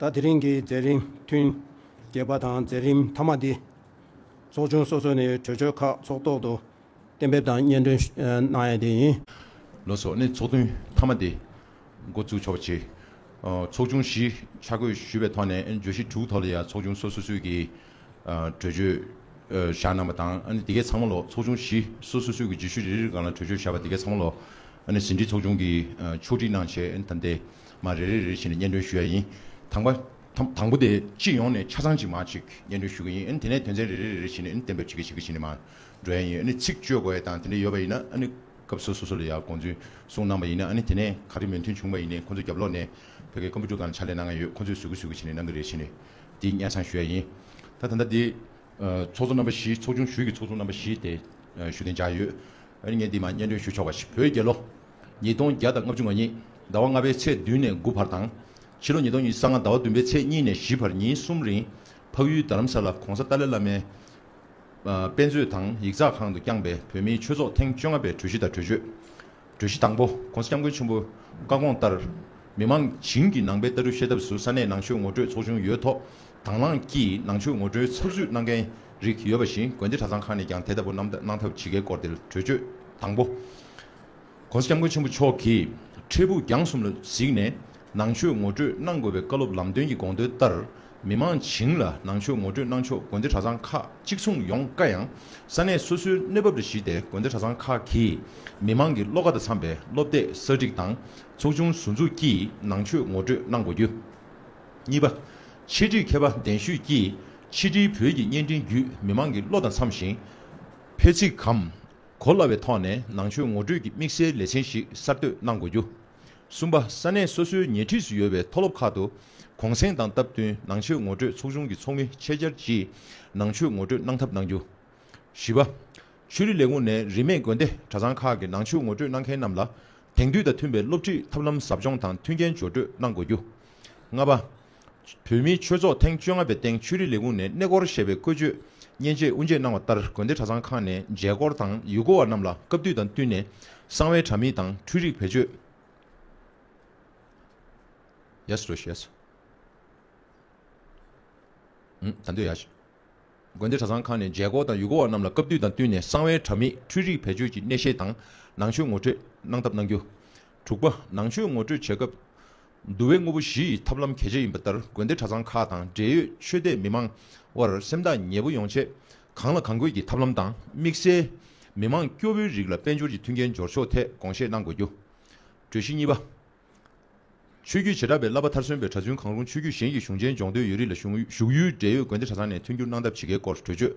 ད་དེ་རིང་གི་མཛད་རིམ་ཐུན་བརྒྱད་པ་དང་མཛད་རིམ་མཐའ་མ་འདི། ཚོགས་ཆུང་སོ་སོ་ནས་གྲོས་ཆོད་ཁག་ཚོགས་ཐོག་ཏུ་གཏན་འབེབས་དང་སྙན་སྒྲོན་གནང་ཡས་དེ་ཡིན། ལོ་སོགས་ནས་ཚོགས་ཐུན་མཐའ་མ་འདི་འགོ་འཛུགས་ཆོག་པ་བྱས། ཚོགས་ཆུང་བཞི་ཆ་བགོས་ཞུས་པའི་ཐོག་ནས་བརྗོད་གཞི་དྲུག་ཐོག་ལ་ཡང་ཚོགས་ཆུང་སོ་སོ་སུས་ཀྱིས། གྲོས་ཆོད་བཞག་གནང་བ་དང་ཨ་ནི་དེ་གའི་ཚང་མ་ལོ་ཚོགས་ཆུང་བཞི་སོ་སོ་སོའི་གི་རྗེས་ཤུལ་རེ་རེར་གང་ལ་གྲོས་ཆོད་བཞག་པ་དེ་གའི་ཚང་མ་ལོ་ཨ་ནི་ཟིན་བྲིས་ཚོགས་ཆུང་གིས་ཕྱོགས་སྒྲིག་གནང་བྱས་ཨ་ནི་དང་དེ་མ་རེ་རེ་རེ་བཞིན་སྙན་སྒྲོན་ཞུ་ཡ་ཡིན། དང་པ། དང་པོ་དེ་སྤྱི་ཡོངས་ནས་ཆ་ཚང་གཅིག་མ་གཅིག་སྙན་སྒྲོན་ཞུ་གི་ཡིན་ཨ་ནི་དེ་ནས་དོན་ཚན་རེ་རེ་རེ་རེ་བཞིན་ཨ་ནི་གཏན་འབེབས་བྱེད་ཀྱི་བྱེད་ཀྱི་བྱེད་ནས་མ་འགྲོ་ཡ་ཡིན་ཨ་ནི་ཚིག་བཅོས་དགོས་ཡ་དང་དེ་འདྲ་ཡོད་པ་ཡིན་ན་ཨ་ནི་སྐབས་སོ་སོ་སོ་ལ་ཡར་དགོངས་ཚུལ་གསུངས་གནང་བ་ཡིན་ཨ་ནི་དེ་ནས་ག་རེ་མོས་མཐུན་བྱུང་བ་ཡིན་ནས་ཁོ་ཚོས་རྒྱབ་ལོག་ནས་བོད་སྐད་ཀོམ་པུ་ཏུར་གང་ལ་ཕྱག་ལས་གནང་གི་ཡོད་ཁོ་ཚོས་ཟུར་གི་ཟུར་གི་བྱེད་ནས་གནང་གི་རེད་བྱེད་ནས་འདི་གཉན་ཚང་ཞོལ་ཡིན། ད་ད་ལྟ་འདི། ཚོགས་གཙོ་རྣམ་པ་བཞིའི་ཚོགས་ཆུང་ཞུས་ཀྱི་ཚོགས་གཙོ་རྣམ་པ་བཞི་དེ། ཞུ་གཏན་འཇགས་ཡོད། ཨ་ངས་འདི་མ་སྙན་སྒྲོན་ཞུ་ཆོག་པ་ཞིག་བོད་རྒྱལ་ལོ། ཉིས་སྟོང་བརྒྱ་དང་ལྔ་བཅུ་ང་གཉིས་ཟླ་བ་ལྔ་པའི་ཚེས་བདུན་ནས་དགུ་བར་དང། ཕྱི་ལོ་ཉིས་སྟོང་ཉིས་ས་ལྔ་ཟླ་བ་བདུན་པའི་ཚེས་གཉིས་ནས་བཞི་བར་ཉིན་གསུམ་རིང། འཕགས་ཡུལ་རྡ་རམ་ས་ལ་གོང་ས་ཏཱ་ལའི་བླ་མའི། དཔེ་མཛོད་དང་ཡིག་ཚགས་ཁང་དུ་བསྐྱངས་པའི་བོད་མིའི་ཆོས་ཚོགས་ཐེངས་བཅོ་ལྔ་པའི་གྲོས་གཞི་དང་གྲོས་ཆོད། གྲོས་གཞི་དང་པོ། ྋགོང་ས ྋསྐྱབས་མགོན་ཆེན་པོའི་བཀའ་དགོངས་ལྟར། མི་མང་བྱིངས་ཀྱི་ནང་པའི་ལྟ་གྲུབ་ཤེས་ཐབས་སུ་ས་གནས་ནང་ཆོས་ངོ་སྤྲོད་ཚོགས་ཆུང་ཡོད་ཐོག་དྭང་བླངས་ཀྱིས་ནང་ཆོས་ངོ་སྤྲོད་ཚགས་བསུད་གནང་མཁན་རིགས་ཡོད་པ་བཞིན་དགོན་སྡེ་གྲྭ་ཚང་ཁག་ནས་ཀྱང་དེ་ལྟ་བུ་གནང་ཐབས་ཇི་དགེའི་སྐོར་དེ་གྲོས་ཆོད་དང་པོ། ྋགོང་ས ྋསྐྱབས་མགོན་ཆེན་པོ་མཆོག་གིས་འཕྲལ་ཕུགས་རྒྱང་གསུམ་ལ་གཟིགས་ནས་ནང་ཆོས་ངོ་སྤྲོད་གནང་དགོས་པའི་བཀའ་སློབ་ལམ་སྟོན་གྱི་དགོངས་དོན་ལྟར། མི་མང་བྱིངས་ལ་ནང་ཆོས་ངོ་སྤྲོད་གནང་ཕྱོགས་དགོན་སྡེ་གྲྭ་ཚང་ཁག་གཅིག་མཚུངས་ཡོང་དཀའ་ཡང། ས་གནས་སོ་སོའི་གནས་བབ་ལ་གཞིགས་ཏེ་དགོན་སྡེ་གྲྭ་ཚང་ཁག་གིས་མི་མང་གི་བློ་ཁ་དང་འཚམས་པའི་སློབ་དེབ་གསར་སྒྲིག་དང་ཚོགས་ཆུང་ཟུར་འཛུགས་ཀྱིས་ནང་ཆོས་ངོ་སྤྲོད་གནང་དགོས་རྒྱུ། གཉིས་པ། ཕྱི་དྲིལ་མཁས་པ་གདན་ཞུས་ཀྱིས་ཕྱི་དྲིལ་བོད་ཀྱི་བརྙན་འཕྲིན་བརྒྱུད་མི་མང་གི་བློ་དང་འཚམས་ཤིང། ཕལ་ཚིག་གམ། གོ་སླ་བའི་ཐོག་ནས་ནང་ཆོས་ངོ་སྤྲོད་ཀྱི་དམིགས་བསལ་ལེ་ཚན་ཞིག་གསར་གཏོད་གནང་དགོས་རྒྱུ། གསུམ་པ། ས་གནས་སོ་སོའི་ཉེ་འཁྲིས་སུ་ཡོད་པའི་མཐོ་སློབ་ཁག་ཏུ་གུང་སེང་དང་སྟབས་བསྟུན་ནང་ཆོས་ངོ་སྤྲོད་ཚོགས་ཆུང་གི་ཚོགས་མི་ཆེད་བཅར་གྱིས་ནང་ཆོས་ངོ་སྤྲོད་གནང་ཐབས་གནང་རྒྱུ། བཞི་པ། ཆོས་རིག་ལས་ཁུངས་ནས་རིས་མེད་དགོན་སྡེ་གྲྭ་ཚང་ཁག་གི་ནང་ཆོས་ངོ་སྤྲོད་གནང་མཁན་རྣམས་ལ་དེང་དུས་དང་མཐུན་པའི་སློབ་ཁྲིད་ཐབས་ལམ་ཟབ་སྦྱོང་དང་མཐུན་རྐྱེན་སྦྱོར་སྤྲོད་གནང་དགོས་རྒྱུ། ལྔ་པ། བོད་མིའི་ཆོས་ཚོགས་ཐེངས་བཅོ་ལྔ་པའི་སྟེང་ཆོས་རིག་ལས་ཁུངས་ནས་གནས་སྐོར་ཞེས་པའི་བཀོད་བྱུས་མཉེན་ཆས་དབུ་འབྱེད་གནང་བ་ལྟར་དགོན་སྡེ་གྲྭ་ཚང་ཁག་ནས་མཇལ་སྐོར་དང་ཡུལ་སྐོར་བ་རྣམས་ལ་སྐབས་དུས་དང་བསྟུན་ནས་གསང་བའི་དྲ་མིག་དང་འཕྲུལ་རིག་བེད་སྤྱོད། དགོན་སྡེ་གྲྭ་ཚང་ཁག་ནས་མཇལ་སྐོར་དང་ཡུལ་སྐོར་བ་རྣམས་ལ་སྐབས་དུས་དང་བསྟུན་ནས་གསང་བའི་དྲ་མིག་འཕྲུལ་རིག་བེད་སྤྱོད་ཀྱི་གནས་བཤད་དང་ནང་ཆོས་ངོ་སྤྲོད་གནང་ཐབས་གནང་རྒྱུ། དྲུག་པ། ནང་ཆོས་ངོ་སྤྲོད་བྱེད་སྐབས་འདུ་བའི་དངོས་པོ་བཞི་ཡི་ཐབས་ལམ་གལ་ཆེ་ཡིན་པ་ལྟར་དགོན་སྡེ་གྲྭ་ཚང་ཁག་དང་འབྲེལ་ཡོད་ཆོས་དད་མི་མང་དབར་སེམས་ཐག་ཉེ་པོ་ཡོང་ཆེད་གང་ལ་གང་དགོས་ཀྱི་ཐབས་ལམ་དང་དམིགས་བསལ་མི་མང་སྐྱོ་བོའི་རིགས་ལ་དཔལ་འབྱོར་གྱི་མཐུན་རྐྱེན་སྦྱོར་ཕྱོགས་ཐད་དགོངས་བཞེས་གནང་དགོས་རྒྱུ། གྲོས་གཞི་གཉིས་པ། ཆོས་བརྒྱུད་བྱེ་བྲག་པའི་བསླབ་པ་མཐར་སོན་པའི་གྲྭ་བཙུན་གང་རུང་ཆོས་བརྒྱུད་གཞན་གྱི་གཞུང་ཆེན་སྦྱོང་འདོད་ཡོད་རིགས་ལ་བཞུགས་ཡུལ་འབྲེལ་ཡོད་དགོན་སྡེ་གྲྭ་ཚང་ནས་མཐུན་འགྱུར་གནང་ཐབས་ཇི་དགེའི་སྐོར་གྲོས་ཆོད་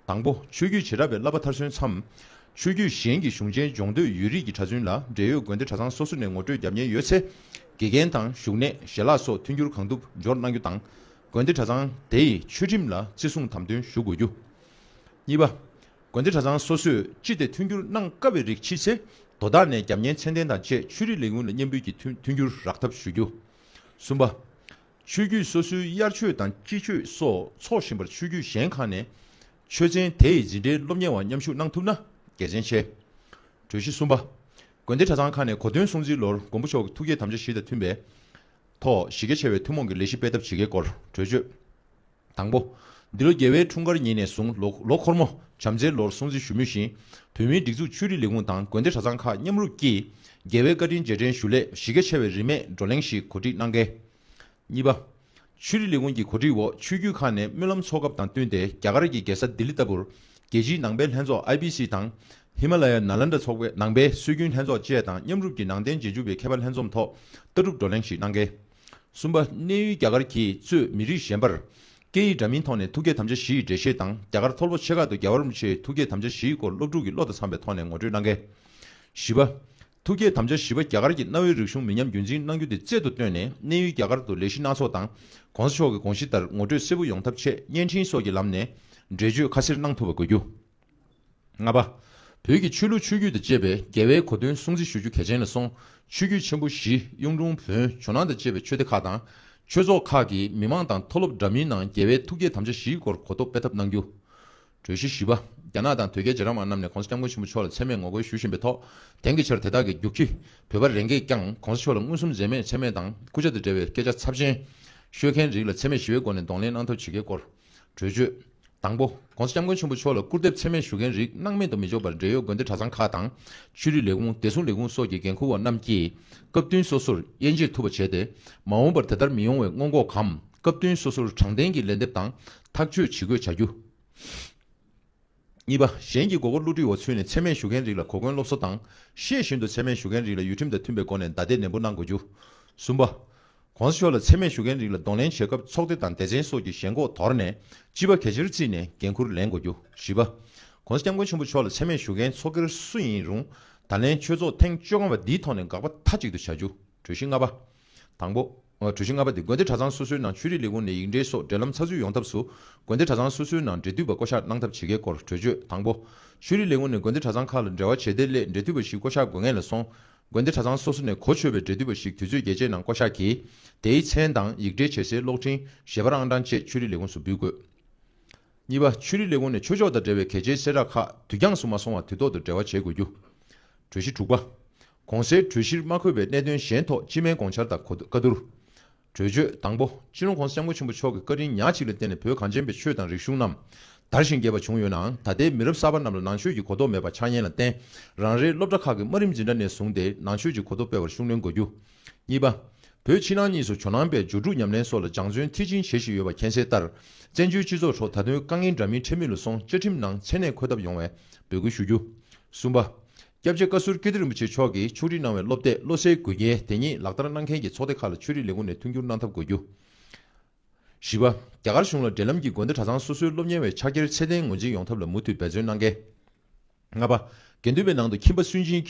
དང་པོ། ཆོས་བརྒྱུད་བྱེ་བྲག་པའི་བསླབ་པ་མཐར་སོན་མཚམས། ཆོས་བརྒྱུད་གཞན་གྱི་གཞུང་ཆེན་སྦྱོང་འདོད་ཡུལ་རིས་ཀྱི་གྲྭ་བཙུན་ལ་འབྲེལ་ཡོད་དགོན་སྡེ་གྲྭ་ཚང་སོ་སོ་ནས་ངོ་སྤྲོད་བརྒྱབ་ཉེན་ཡོད་ཚེ། དགེ་རྒན་དང་བཞུགས་གནས་ཞལ་ལག་སོགས་མཐུན་འགྱུར་གང་ཐུབ་འབྱོར་གནང་རྒྱུ་དང། དགོན་སྡེ་གྲྭ་ཚང་དེའི་ཆོས་ཁྲིམས་ལ་བརྩི་སྲུང་དམ་དོན་ཞུ་དགོས་རྒྱུ། གཉིས་པ། དགོན་སྡེ་གྲྭ་ཚང་སོ་སོས་ཅི་སྟེ་མཐུན་འགྱུར་གནང་དཀའ་བའི་རིགས་མཆིས་ཚེ་དོ་བདག་ནས་རྒྱབ་གཉེར་མཚན་ལྡན་དང་བཅས་ཆོས་རིག་ལས་ཁུངས་ལ་སྙན་འབུལ་གྱིས་མཐུན་འགྱུར་རག་ཐབས་ཞུ་རྒྱུ། གསུམ་པ། ཆོས་བརྒྱུད་སོ་སོའི་དབྱར་ཆོས་དང་དཔྱིད་ཆོས་སོགས་འཚོགས་བཞིན་པར་ཆོས་བརྒྱུད་གཞན་ཁག་ནས་ཆོས་ཚན་དེ་ཡི་འཛིན་གྲྭའི་སློབ་གཉེར་བ་མཉམ་ཞུགས་གནང་ཐུབ་ན་དགེ་མཚན་ཆེ། གྲོས་གཞི་གསུམ་པ། དགོན་སྡེ་གྲྭ་ཚང་ཁག་ནས་གོ་སྟོན་སྲུང་བརྩིའི་ལོར་མགོན་པོ་མཆོག་གི་ཐུགས་བསྐྱེད་དམ་བཅའ་བཞི་དང་མཐུན་པའི་ཐོག་གཞི་རྒྱ་ཆེ་བའི་ཐུན་མོང་གི་ལས་གཞི་སྤེལ་ཐབས་ཇི་དགེའི་སྐོར་གྲོས་ཆོད། དང་པོ། འདི་ལོ་རྒྱལ་བའི་འཁྲུངས་སྐར་ཉིན་ནས་བཟུང་ལོ་ལོ་འཁོར་མོ་བྱམས་བརྩེའི་ལོར་སྲུང་བརྩི་ཞུ་མུས་བཞིན། བོད་མིའི་སྒྲིག་འཛུགས་ཆོས་རིག་ལས་ཁུངས་དང་དགོན་སྡེ་གྲྭ་ཚང་ཁག་མཉམ་རུབ་ཀྱིས། རྒྱལ་བའི་བཀའ་དྲིན་རྗེས་དྲན་ཞུ་སླད་གཞི་རྒྱ་ཆེ་བའི་རིན་མེད་བགྲོ་གླེང་ཞིག་གོ་སྒྲིག་གནང་གལ། གཉིས་པ། ཆོས་རིག་ལས་ཁུངས་ཀྱི་གོ་སྒྲིག་འོག་ཆོས་བརྒྱུད་ཁག་ནས་སྨོན་ལམ་ཚོགས་སྐབས་དང་བསྟུན་ཏེ་རྒྱ་གར་གྱི་རྒྱལ་ས་ལྡི་ལི་ལྟ་བུར། རྒྱལ་སྤྱིའི་ནང་པའི་ལྷན་ཚོགས IBC དང། ཧི་མ་ལ་ཡ་ན་ལན་དྲ་ཚོགས་པའི་ནང་པའི་སྲོལ་རྒྱུན་ལྷན་ཚོགས་བཅས་དང་མཉམ་རུབ་ཀྱིས་ནང་བསྟན་རྗེས་འཇུག་པའི་མཁས་པ་ལྷན་འཛོམས་ཐོག་ལྟ་གྲུབ་བགྲོ་གླེང་ཞིག་གནང་གལ། གསུམ་པ། གནས་ཡུལ་རྒྱ་གར་གྱིས་གཙོས་མི་རིགས་གཞན་པར། སྐད་ཡིག་འདྲ་མིན་ཐོག་ནས་ཐུགས་བསྐྱེད་དམ་བཅའ་བཞི་ཡི་འགྲེལ་བཤད་དང་རྒྱ་གར་མཐོ་སློབ་ཆེ་ཁག་ཏུ་རྒྱ་གར་རིན་པོ་ཆེའི་ཐུགས་བསྐྱེད་དམ་བཅའ་བཞིའི་སྐོར་སློབ་ཕྲུག་གི་བློ་དང་འཚམ་པའི་ཐོག་ནས་ངོ་སྤྲོད་གནང་གལ། བཞི་པ། ཐུགས་བསྐྱེད་དམ་བཅའ་བཞི་པ་རྒྱ་གར་གྱི་གནའ་བོའི་རིག་གཞུང་མི་ཉམས་རྒྱུན་འཛིན་གནང་རྒྱུ་དེ་རྩལ་དུ་བཏོན་ནས་གནས་ཡུལ་རྒྱ་གར་དུ་ལས་གཞི་སྣ་ཚོགས་དང ྋགོང་ས་མཆོག་གི་དགོངས་གཞི་ལྟར་ངོ་སྤྲོད་གསལ་པོ་ཡོང་ཐབས་ཆེད་བརྙན་འཕྲིན་སོགས་ཀྱི་ལམ་ནས་འགྲེལ་བརྗོད་ཁ་གསལ་གནང་ཐུབ་པ་དགོས་རྒྱུ། ལྔ་པ། བོད་ཀྱི་ཆོས་ལུགས་ཆོས་བརྒྱུད་དང་བཅས་པའི་རྒྱལ་བའི་གོ་སྟོན་སྲུང་བརྩི་ཞུ་རྒྱུ་གལ་ཆེན་ལ་སོང། ཆོས་བརྒྱུད་ཆེན་པོ་བཞི་གཡུང་དྲུང་བོན་ཇོ་ནང་དང་བཅས་པའི་ཆོས་སྡེ་ཁག་དང། ཆོས་ཚོགས་ཁག་གིས་མི་མང་དང་མཐོ་སློབ་འདྲ་མིན་ནང་རྒྱལ་བའི་ཐུགས་བསྐྱེད་དམ་བཅའ་བཞིའི་སྐོར་གོ་རྟོགས་སྤེལ་ཐབས་གནང་རྒྱུ། གྲོས་གཞི་བཞི་པ། རྒྱ་ནག་དང་དོལ་རྒྱལ་རྗེ་རབས་དབང་རྣམས་ནས་གོང་ས་སྐྱབས་མགོན་ཆེན་པོ་མཆོག་ལ་མཚན་སྨད་ངོ་རྒོལ་ཞུ་བཞིན་པའི་ཐོག་དེང་གི་ཆར་དེ་དག་གི་རྒྱུག་ཁྱི་བོད་པ་རེ་འགས་ཀྱང་གོང་ས་མཆོག་ལ་མངོན་སུམ་མཛེས་མས་མཚན་སྨད་དང་སྐུ་ཕྱྭ་དང་འབྲེལ་བའི་སྐད་ཆ་ཚབས་ཆེན་ཤོད་མཁན་རིགས་ལ་འཚེ་མེད་ཞི་བའི་སྒོ་ནས་གདོང་ལེན་གནང་ཐབས་བྱེད་མཁན་སྐོར་གྲོས་ཆོད། དང་པོ། ྋགོང་ས ྋསྐྱབས་མགོན་ཆེན་པོ་མཆོག་ལ་སྐུར་འདེབས་ཚད་མེད་ཞུ་མཁན་རིགས་སྣང་མེད་དུ་མི་འཇོག་པར་འབྲེལ་ཡོད་དགོན་སྡེ་གྲྭ་ཚང་ཁག་དང། ཆོས་རིག་ལས་ཁུངས་བདེ་སྲུང་ལས་ཁུངས་སོགས་ཀྱི་འགན་འཁུར་བ་རྣམས་ཀྱིས། སྐབས་བསྟུན་སོ་སོར་དབྱེ་འབྱེད་ཐུབ་པ་བྱས་ཏེ། མ་འོངས་པར་དེ་ལྟར་མི་ཡོང་བའི་སྔོན་འགོག་གམ་སྐབས་བསྟུན་སོ་སོར་དྲང་བདེན་གྱི་ལན་འདེབས་དང་ཐག་གཅོད་ཇི་དགོས་བྱ་རྒྱུ། གཉིས་པ། གཞན་གྱིས་མགོ་སྐོར་བསླུ་བྲིད་འོག་ཚུད་ནས་ཚད་མས་ཞུ་མཁན་རིགས་ལ་གོ་སྐོན་སློབ་གསོ་དང། ཤེས་བཞིན་དུ་ཚད་མས་ཞུ་མཁན་རིགས་ལ་ཡུལ་ཁྲིམས་དང་མཐུན་པའི་སྒོ་ནས་བདའ་འདེད་ནན་པོ་གནང་དགོས་རྒྱུ། གསུམ་པ། གོང་ས་མཆོག་ལ་ཚད་མས་ཞུ་མཁན་རིགས་ལ་གདོང་ལེན་བྱེད་སྐབས་ཚོགས་སྡེ་དང་སྡེ་ཚན་སོགས་ཀྱི་ཞེན་ཁོག་དོར་ནས་སྤྱི་པ་གལ་ཆེར་བརྩིས་ནས་འགན་ཁུར་ལེན་དགོས་རྒྱུ། བཞི་པ། གོང་ས་སྐྱབས་མགོན་ཆེན་པོ་མཆོག་ལ་ཚད་མས་ཞུ་མཁན་ཚོགས་སྒེར་སུ་ཡིན་རུང་ད་ལན་ཆོས་ཚོགས་ཐེངས་བཅོ་ལྔ་བ་འདིའི་ཐོག་ནས་དགག་པ་མཐའ་གཅིག་ཏུ་བྱ་རྒྱུ་གྲོས་གཞི་ལྔ་པ། དང་པོ། གྲོས་གཞི་ལྔ་པ་དེ་དགོན་སྡེ་གྲྭ་ཚང་སོ་སོའི་ནང་ཆོས་རིག་ལས་ཁུངས་ནས་ཡིག་འབྲེལ་སོགས་འབྲེལ་ལམ་ཚགས་ཚུད་ཡོང་ཐབས་སུ། དགོན་སྡེ་གྲྭ་ཚང་སོ་སོའི་ནང་འབྲེལ་མཐུད་པ་བསྐོ་གཞག་གནང་ཐབས་བྱེད་དགོས་སྐོར་གྲོས་ཆོད་དང་པོ། ཆོས་རིག་ལས་ཁུངས་ནས་དགོན་སྡེ་གྲྭ་ཚང་ཁག་ལ་འབྲེལ་བ་བྱེད་བདེ་སླད་འབྲེལ་མཐུད་པ་ཞིག་བསྐོ་གཞག་དགོས་ངེས་ལ་སོང། དགོན་སྡེ་གྲྭ་ཚང་སོ་སོ་ནས་གོ་ཆོད་པའི་འབྲེལ་མཐུད་པ་ཞིག་དུས་ཚོད་རྒྱས་བཅད་ནང་བསྐོ་གཞག་གིས། དེའི་མཚན་དང་ཡིག་འབྲེལ་བྱེད་སའི་གློག་འཕྲིན་གཞས་པར་ཨང་གྲངས་བཅས་ཆོས་རིག་ལས་ཁུངས་སུ་འབུལ་དགོས། གཉིས་པ། ཆོས་རིག་ལས་ཁུངས་ནས་ཆོས་ཕྱོགས་དང་འབྲེལ་བའི་གལ་ཆེའི་གསལ་བསྒྲགས་ཁག་དུས་འགྱངས་སུ་མ་སོང་བར་དུས་ཐོག་ཏུ་འབྲེལ་བ་བྱེད་དགོས་རྒྱུ། གྲོས་གཞི་དྲུག་པ། གོང་གསལ་གྲོས་གཞིར་མ་འཁོད་པའི་གནད་དོན་གཞན་ཐོག་སྤྱི་སྨན་དགོངས་འཆར་དང་བཀའ་བསྡུར། གྲོས་ཆོད། དང་པོ། སྤྱི་ནོར ྋགོང་ས ྋསྐྱབས་མགོན་ཆེན་པོ་མཆོག་གི་བཀའ་དྲིན་ཉག་གཅིག་ལ་བརྟེན་ནས་བོད་གངས་ཅན་པའི་ཆོས་དང་རིག་གཞུང་རྣམས་དར་ཞིང་རྒྱས་པ་བྱུང་ཡོད་ནའང་ད་ལྟའི་མི་རབས་གསར་པ་རྣམས་ལ་ནང་ཆོས་ཀྱི་གོ་རྟོགས་མེད་པ་ཆགས་ཉེན་ལ་བརྟེན་རང་རེའི་སློབ་གྲྭ་ཁག་གི་དམའ་རིམ་འཛིན་གྲྭ་ནས་བཟུང་སྟེ་ནང་ཆོས་ཀྱི་གོ་རྟོགས་སྤེལ་བར་ཤུགས་སྣོན་དགོས་རྒྱུ། གཉིས་པ། བོད་ཕྱི་ནང་གཉིས་སུ་ཇོ་ནང་པའི་སྦྱོར་དྲུག་ཉམས་ལེན་སོགས་ལ་སྦྱང་བརྩོན་མཐིལ་ཕྱིན་བྱེད་བཞིན་ཡོད་པ་མཁྱེན་གསལ་ལྟར། བཙན་བྱོལ་སྤྱི་ཚོགས་ཁྲོད་ད་དུང་དཀའ་ངལ་འདྲ་མིན་འཕྲད་མུས་ལ་སོང་བཅའ་ཁྲིམས་ནང་མཚན་གནས་འཁོད་ཐབས་ཡོང་བའི་འབོད་སྐུལ་ཞུ་རྒྱུ། གསུམ་པ། སྐྱབས་རྗེ་བཀའ་ཟུར་ཀིརྟི་རིན་པོ་ཆེ་མཆོག་གིས་ཕྱོགས་སྒྲིག་གནང་བའི་སློབ་དེབ་བློ་གསལ་དགོས་གལ་དེ་ཉིད་ལག་བསྟར་གནང་མཁན་གྱི་ཚོགས་སྡེ་ཁག་ལ་ཆོས་རིག་ལས་ཁུངས་ནས་མཐུན་འགྱུར་གནང་ཐབས་དགོས་རྒྱུ། བཞི་བ། རྒྱ་གར་གཞུང་ལ་འབྲེལ་ལམ་གྱིས་དགོན་སྡེ་གྲྭ་ཚང་སོ་སོའི་སློབ་གཉེར་བའི་ཕྱག་འཁྱེར་ཚད་ལྡན་ངོས་འཛིན་ཡོང་ཐབས་ལ་མུ་མཐུད་འབད་བརྩོན་གནང་གལ། ལྔ་པ། དགེ་འདུན་པའི་ནང་དུ་ཁྱིམ་པ་སུན་འབྱིན།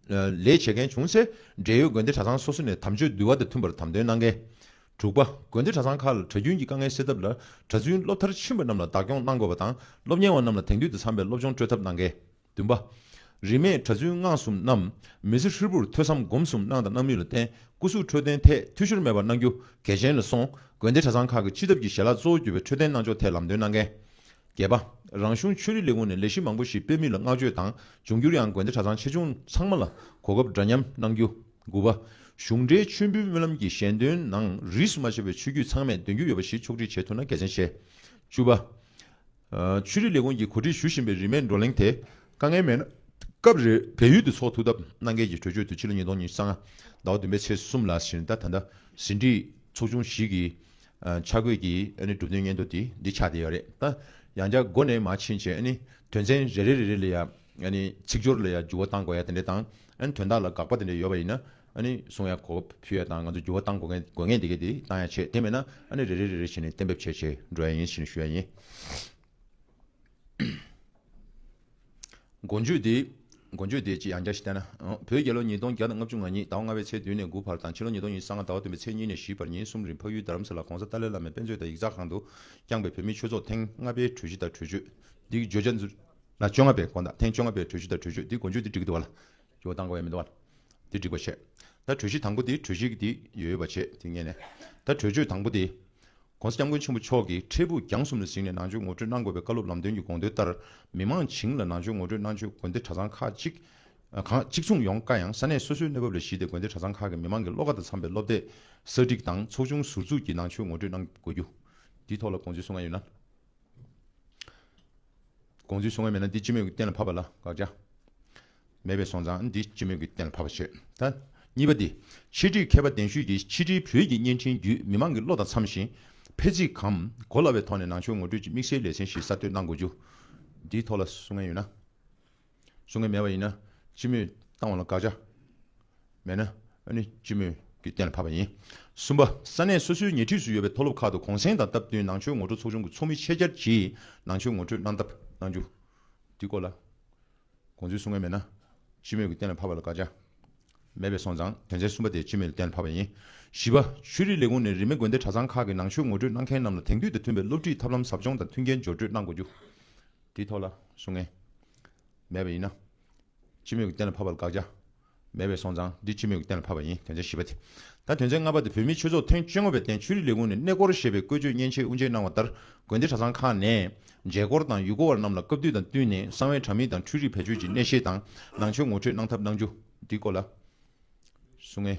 ལས་བྱེད་མཁན་བྱུང་ཚེ་འབྲེལ་ཡོད་དགོན་སྡེ་གྲྭ་ཚང་སོ་སོ་ནས་དམ་ཆོས་འདུལ་བ་དང་མཐུན་པར་དམ་དོན་གནང་གལ། དྲུག་པ། དགོན་སྡེ་གྲྭ་ཚང་ཁག་ལ་གྲྭ་རྒྱུན་གྱི་དཀའ་ངལ་སེལ་ཐབས་ལ་གྲྭ་བཙུན་སློབ་མཐར་ཕྱིན་པ་རྣམས་ལ་བདག་སྐྱོང་གནང་དགོས་པ་དང་སློབ་གཉེར་བ་རྣམས་ལ་དེང་དུས་དང་འཚམ་པའི་སློབ་སྦྱོང་སྤྲོད་ཐབས་གནང་གལ། བདུན་པ། རིས་མེད་གྲྭ་བཙུན་སྔགས་གསུམ་རྣམས། མི་ཚེ་ཧྲིལ་པོར་ཐོས་བསམ་སྒོམ་གསུམ་གནང་དང་གནང་མུས་ལ་བརྟེན་སྐུ་གཟུགས་འཕྲོད་བསྟེན་ཐད་འཐུས་ཤོར་མེད་པར་གནང་རྒྱུ་གལ་ཆེན་ལ་སོང། དགོན་སྡེ་གྲྭ་ཚང་ཁག་གི་སྤྱི་ཐབ་ཀྱི་ཞལ་ལག་གཙོ་བོ་གྱུར་པའི་འཕྲོད་བསྟེན་གནང་ཕྱོགས་ཐད་ལམ་སྟོན་གནང་མཁན། བརྒྱད་པ། རང་གཞུང་ཆོས་རིག་ལས་ཁུངས་ནས་ལས་གཞི་མང་པོ་ཞིག་སྤེལ་མུས་ལ་བསྔགས་བརྗོད་དང་འབྱུང་འགྱུར་ཡང་དགོན་སྡེ་གྲྭ་ཚང་ཆེ་ཆུང་ཚང་མ་ལ་གོ་སྐབས་འདྲ་མཉམ་གནང་རྒྱུ། དགུ་པ། གཞུང་འབྲེལ་མཆོད་འབུལ་སྨོན་ལམ་གྱི་ཞལ་འདོན་ནང་རིས་སུ་མ་ཆད་པའི་ཆོས་བརྒྱུད་ཚང་མས་འདོན་རྒྱུ་ཡོད་པ་ཞིག་ཕྱོགས་སྒྲིག་བྱེད་ཐུབ་ན་གལ་ཆེན་ཆེ། བཅུ་པ། ཆོས་རིག་ལས་ཁུངས་ཀྱིས་གོ་སྒྲིག་ཞུ་བཞིན་པའི་རིས་མེད་བགྲོ་གླེང་དེ་དཀའ་ངལ་མེད་ན་སྐབས་རེར་བལ་ཡུལ་དུ་ཚོགས་ཐུག་སྟབས་གནང་གལ་གྱི་གྲོས་ཆོད་དུ་ཕྱི་ལོ་ཉིས་སྟོང་ཉིས་སྟོང་ཟླ་བ་བདུན་པའི་ཚེས་གསུམ་ལ་ཞིང་རྟ་ད་ཟིན་བྲིས་ཚོགས་ཆུང་ཞིག་གིས་འཆར་འགོད་ཀྱིས་གྲུབ་དོན་སྙན་ཐོ་དེ་འདི་ཆགས་བསྡད་ཡོད་རེད་ད། ཡང་བསྐྱར་མགོ་ནས་མ་ཕྱིན་བྱས་དོན་ཚན་རེ་རེ་རེ་རེ་ལ་ཡང་ཚིག་སྦྱོར་ལ་ཡང་འགྱུར་བ་བཏང་དགོས་ཡ་དེ་འདྲས་དང་དོན་དག་ལ་དགག་པ་དེ་འདྲས་ཡོད་པ་ཡིན་ན་ཨ་ནི་གསུང་ཡག་གོ་ཕུད་ཡག་དང་ང་ཚོ་འགྱུར་བ་གཏང་དགོས་ངེས་དགོས་ངེས་འདི་གས་འདི་གཏང་ཡག་བྱེད་དེ་མེད་ན་ཨ་ནི་རེ་རེ་རེ་རེ་བྱེད་ནས་གཏན་འབེབས་བྱས་བྱས་འགྲོ་ཡག་ཡིན་ཞེས་ནས་ཞུ་ཡག་ཡིན། མགོ་འཇུག་འདི་མགོ་འཇུག་འདི་ཅི་ཡང་བསྐྱར་ཞིག་བལྟས་ན། བོད་རྒྱལ་ལོ་ཉིས་སྟོང་བརྒྱ་དང་ལྔ་བཅུ་ང་ཉིད་ཟླ་བ་ལྔ་བའི་ཚེས་བདུན་ནས་དགུ་བར་དང་ཕྱི་ལོ་ཉིས་སྟོང་ཉིས་སང་ང་ཟླ་བ་བདུན་པའི་ཚེས་གཉིས་ནས་བཞི་བར་ཉིན་གསུམ་རིང་འཕགས་ཡུལ་རྡ་རམ་ས་ལ་གོང་ས་ཏཱ་ལའི་བླ་མའི་དཔེ་མཛོད་དང་ཡིག་ཚགས་ཁང་དུ་བསྐྱངས་པའི་བོད་མིའི་ཆོས་ཚོགས་ཐེངས་ལྔ་པའི་གྲོས་གཞི་དང་གྲོས་ཆོད་འདི་བརྗོད་བྱ། ལ་བཅོ་ལྔ་པའི་དགོངས་དག་ཐེངས་བཅོ་ལྔ་པའི་གྲོས་གཞི་དང་གྲོས་ཆོད་འདི་མགོ་འཇུག་འདི་འབྲི་གི་འདུག་བ་ལ། ཇོ་བོ་དང་བའི་མེ་ཏོག། དེ་འགྲིག་པར་བྱས། ད་གྲོས་གཞི་དང་པོ་དེ་གྲོས་གཞི་དེ་ཡོད་པ་བྱས་དེ་ངེས་ནས། ད་གྲོས་ཆོད་དང་པོ་དེ། ྋགོང་ས ྋསྐྱབས་མགོན་ཆེན་པོ་མཆོག་གིས་འཕྲལ་ཕུགས་རྒྱང་གསུམ་ལ་གཟིགས་ནས་ནང་ཆོས་ངོ་སྤྲོད་གནང་དགོས་པའི་བཀའ་སློབ་ལམ་སྟོན་གྱི་དགོངས་དོན་ལྟར། མི་མང་བྱིངས་ལ་ནང་ཆོས་ངོ་སྤྲོད་གནང་ཆོས་དགོན་སྡེ་གྲྭ་ཚང་ཁག་གཅིག་མཚུངས་ཡོང་དཀའ་ཡང་ས་གནས་སོ་སོའི་གནས་བབ་ལ་གཞིགས་ཏེ་དགོན་སྡེ་གྲྭ་ཚང་ཁག་གི་མི་མང་གི་བློ་ཁ་དང་འཚམ་པའི་སློབ་དེབ་གསར་སྒྲིག་དང་ཚོགས་ཆུང་ཟུར་འཛུགས་ཀྱིས་ནང་ཆོས་ངོ་སྤྲོད་གནང་དགོས་རྒྱུ། དེའི་ཐོག་ལ་དགོངས་ཚུལ་གསུང་ང་ཡོད་ན། དགོངས་ཚུལ་གསུང་བ་མེད་ན་འདི་སྤྱི་མོས་ཀྱི་གཏན་ལ་ཕབ་པ་ལ་དགག་བྱ་མེད་པས་སོང་ཙང་འདི་སྤྱི་མོས་ཀྱི་གཏན་ལ་ཕབ་པ་བྱོས་ད། གཉིས་པ་འདི་ཕྱི་དྲིལ་མཁས་པ་གདན་ཞུས་ཀྱིས་ཕྱི་དྲིལ་བོད་ཀྱི་བརྙན་འཕྲིན་བརྒྱུད་མི་མང་གི་བློ་དང་འཚམ་ཞིང། ཕལ་ཚིག་གམ་གོ་སླ་བའི་ཐོག་ནས་ནང་ཆོས་ངོ་སྤྲོད་ཀྱི་དམིགས་བསལ་ལེ་ཚན་ཞིག་གསར་གཏོད་གནང་དགོས་རྒྱུ། འདིའི་ཐོག་ལ་གསུང་ངན་ཡོད་ན། བཟོ་མཁན་མེད་པ་ཡིན་ན་སྤྱི་མོས་བཏང་བ་ལ་དགག་བྱ་མེད་ན་ནི་སྤྱི་མོས་ཀྱིས་གཏན་ལ་ཕབ་པ་ཡིན། གསུམ་པ། ས་གནས་སོ་སོའི་ཉེ་འཁྲིས་སུ་ཡོད་པའི་མཐོ་སློབ་ཁག་ཏུ་གུང་གསེང་དང་སྟབས་བསྟུན་ནང་ཆོས་ངོ་སྤྲོད་ཚོགས་ཆུང་གི་ཚོགས་མི་ཆེད་བཅར་གྱིས་ནང་ཆོས་ངོ་སྤྲོད་གནང་ཐབས་གནང་རྒྱུ། འདིའི་སྐོར་ལ་དགོངས་ཚུལ་གསུང་མཁན་མེད་ན་སྤྱི་མོས་ཀྱིས་གཏན་ལ་ཕབ་པ་ལ་དགག་བྱ་མེད་པས་སོང་ཙང་དོན་ཚན་གསུམ་པ་དེ་སྤྱི་མོས་ཀྱིས་གཏན་ལ་ཕབ་པ་ཡིན། བཞི་པ། ཆོས་རིག་ལས་ཁུངས་ནས་རིས་མེད་དགོན་སྡེ་གྲྭ་ཚང་ཁག་གི་ནང་ཆོས་ངོ་སྤྲོད་གནང་མཁན་རྣམས་ལ་དེང་དུས་དང་མཐུན་པའི་སློབ་ཁྲིད་ཐབས་ལམ་ཟབ་སྦྱོང་དང་མཐུན་རྐྱེན་སྦྱོར་སྤྲོད་གནང་དགོས་རྒྱུ། དེའི་ཐོག་ལ་གཟུགས་ངན། མེད་པ་ཡིན་ན། ཕྱི་མོས་ཀྱི་གཏན་ལ་ཕབ་པ་ལ་དགག་བྱ། མེད་པའི་སོང་ཙང་འདི་ཕྱི་མོས་ཀྱི་གཏན་ལ་ཕབ་པ་ཡིན་དོན་ཚན་བཞི་པ་དེ། ད་དོན་ཚན་ལྔ་པ་དེ་བོད་མིའི་ཆོས་ཚོགས་ཐེངས་བཅོ་ལྔ་པའི་སྟེང་ཆོས་རིག་ལས་ཁུངས་ནས་གནས་སྐོར་ཞེས་པའི་བཀོད་སྤྱོད་མཉེན་ཆས་དབུ་འབྱེད་གནང་བ་ལྟར་དགོན་སྡེ་གྲྭ་ཚང་ཁག་ནས། མཇལ་སྐོར་དང་ཡུལ་སྐོར་བ་རྣམས་ལ་སྐབས་དུས་དང་བསྟུན་ནས་གསང་བའི་དྲ་མིག་དང་འཕྲུལ་རིག་བེད་སྤྱོད་ཀྱི་གནས་བཤེར་དང་ནང་ཆོས་ངོ་འཕྲོད་གནང་ཐབས་གནང་རྒྱུ། འདིའི་སྐོར་ལ། གཟུགས་ངན།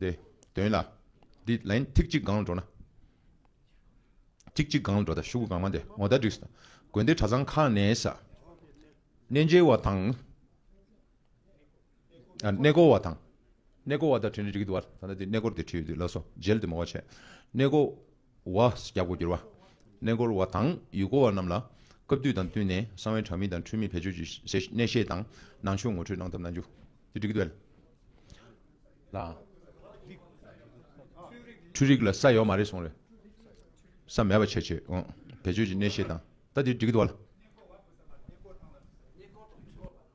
ཏེ། དོན་ལ། འདི་ལན་ཐིག་གཅིག་སྒང་ལ་འགྲོ་ན། ཐིག་གཅིག་སྒང་ལ་འགྲོ་ད་ཤུག་གུ་གང་མ་དེ་ངོ་ད་འགྲིགས། དགོན་སྡེ་གྲྭ་ཚང་ཁག་ནས་ས་གནས་མཇལ་བ་དང། གནས་སྐོར་བ་དང། གནས་སྐོར་བ་ད་བྲིས་ན་འགྲིགས་འདུག་བར་ད་ད་དེ་གནས་སྐོར་དེ་བྲིས་ཡོད་དུས་ལགས་སོ་མཇལ་དུ་མོ་བ་བྱས། གནས་སྐོར། བ། རྒྱ་སྒོར་སྒྱུར་བ། གནས་སྐོར་བ་དང་ཡུལ་སྐོར་བ་རྣམས་ལ་སྐབས་དུས་དང་བསྟུན་ནས་གསང་བའི་དྲ་མིག་དང་འཕྲུལ་མིག་བེད་སྤྱོད་ཀྱིས་གནས་བཤད་དང་ནང་ཆོས་ངོ་སྤྲོད་གནང་ཐབས་གནང་རྒྱུ། འབྲི་གུ་དཔལ་ལགས། འཕྲུལ་རིག་ལ་ས་ཡོད་མ་རེད་གསུངས་རེད། ས་མེད་པ་ཆད་ཆོད། བེད་སྤྱོད་ཀྱིས་གནས་བཤད་དང། ད་དེ་འགྲིག་གི་འདུག་བ།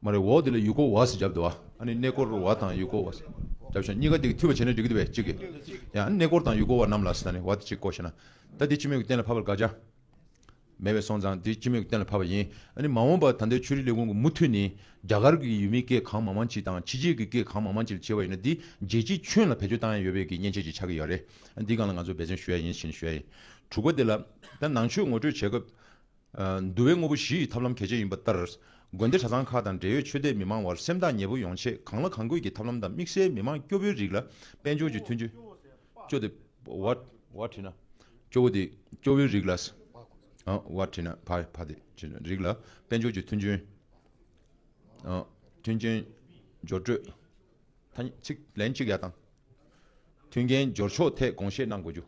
མ་རེད་འོ་དེ་ལ་ཡུལ་སྐོར་བ་ཟེར་བརྒྱབ་འདུག་བ། ཨ་ནི་གནས་སྐོར་བ་དང་ཡུལ་སྐོར་བ་ཟེར་བརྒྱབ་བྱུང་གཉིས་ཀ་འདི་འཐུས་པ་བྱས་ན་འགྲིག་གི་འདུག་བས་གཅིག་གི། ཡང་ཨ་ནི་གནས་སྐོར་དང་ཡུལ་སྐོར་བ་རྣམས་ལ་ཟེར་ན་ནི་བ་དེ་གཅིག་གོ་ཞེ་ན། ད་དེ་སྤྱི་མོས་ཀྱི་གཏན་ལ་ཕབ་པར་དགག་བྱ། མེད་བས་སོང་ཙང་དེ་སྤྱི་མོས་ཀྱི་གཏན་ལ་ཕབ་པ་ཡིན། ཨ་ནི་མ་འོངས་པར་ད་ལྟའི་ཆོས་རིག་ལས་ཁུངས་ཀྱི་མུ་མཐུད་ནི། རྒྱ་གར་གྱི་ཡུལ་མིའི་སྐད་གང་མང་མང་གཅིག་དང་ཕྱི་རྒྱལ་གྱི་སྐད་གང་མང་མང་གཅིག་ལ་བྱེད་པ་ཡིན་ན་འདི་རྒྱལ་སྤྱིའི་ཁྱོན་ལ་བེད་སྤྱོད་བཏང་ཡས་ཡོད་བས་ཀྱི་མཉེན་ཆས་ཅིག་ཆགས་ཀྱི་ཡོད་རེད། འདི་གང་ལ་ང་ཚོས་འབད་བརྩོན་ཞུ་ཡས་ཡིན་ཞེ་ན་ཞུ་ཡས་ཡིན། དྲུག་པ་དེ་ལ། ད་ནང་ཆོས་ངོ་སྤྲོད་བྱེད་སྐབས། འདུལ་བའི་དངོས་པོ་བཞི་ཡི་ཐབས་ལམ་གལ་ཆེན་ཡིན་པ་ལྟར། དགོན་སྡེ་གྲྭ་ཚང་ཁག་དང་འབྲེལ་ཡོད་ཆོས་དད་མི་མང་བར་སེམས་ཐག་ཉེ་པོ་ཡོང་ཆེད་གང་ལ་གང་དགོས་ཀྱི་ཐབས་ལམ་དང་དམིགས་བསལ་མི་དམངས་སྐྱོ་བོའི་རིགས་ལ་དཔལ་འབྱོར་གྱི་མཐུན། སྐྱོ་དེ། བར་བྲིས་ན། སྐྱོ་བོ་དེ། སྐྱོ་བོའི་རིགས་ལ། བར་བྲིས་ན། བར་བ་དེ། རིགས་ལ་དཔལ་འབྱོར་གྱི་མཐུན་རྐྱེན། མཐུན་རྐྱེན། སྦྱོར་སྤྲོད། ཐ་སྙད། ཚིག་ལན་གཅིག་ཡག་དང། མཐུན་རྐྱེན་སྦྱོར་ཕྱོགས་ཐད་དགོངས་བཞེས་གནང་དགོས་རྒྱུ།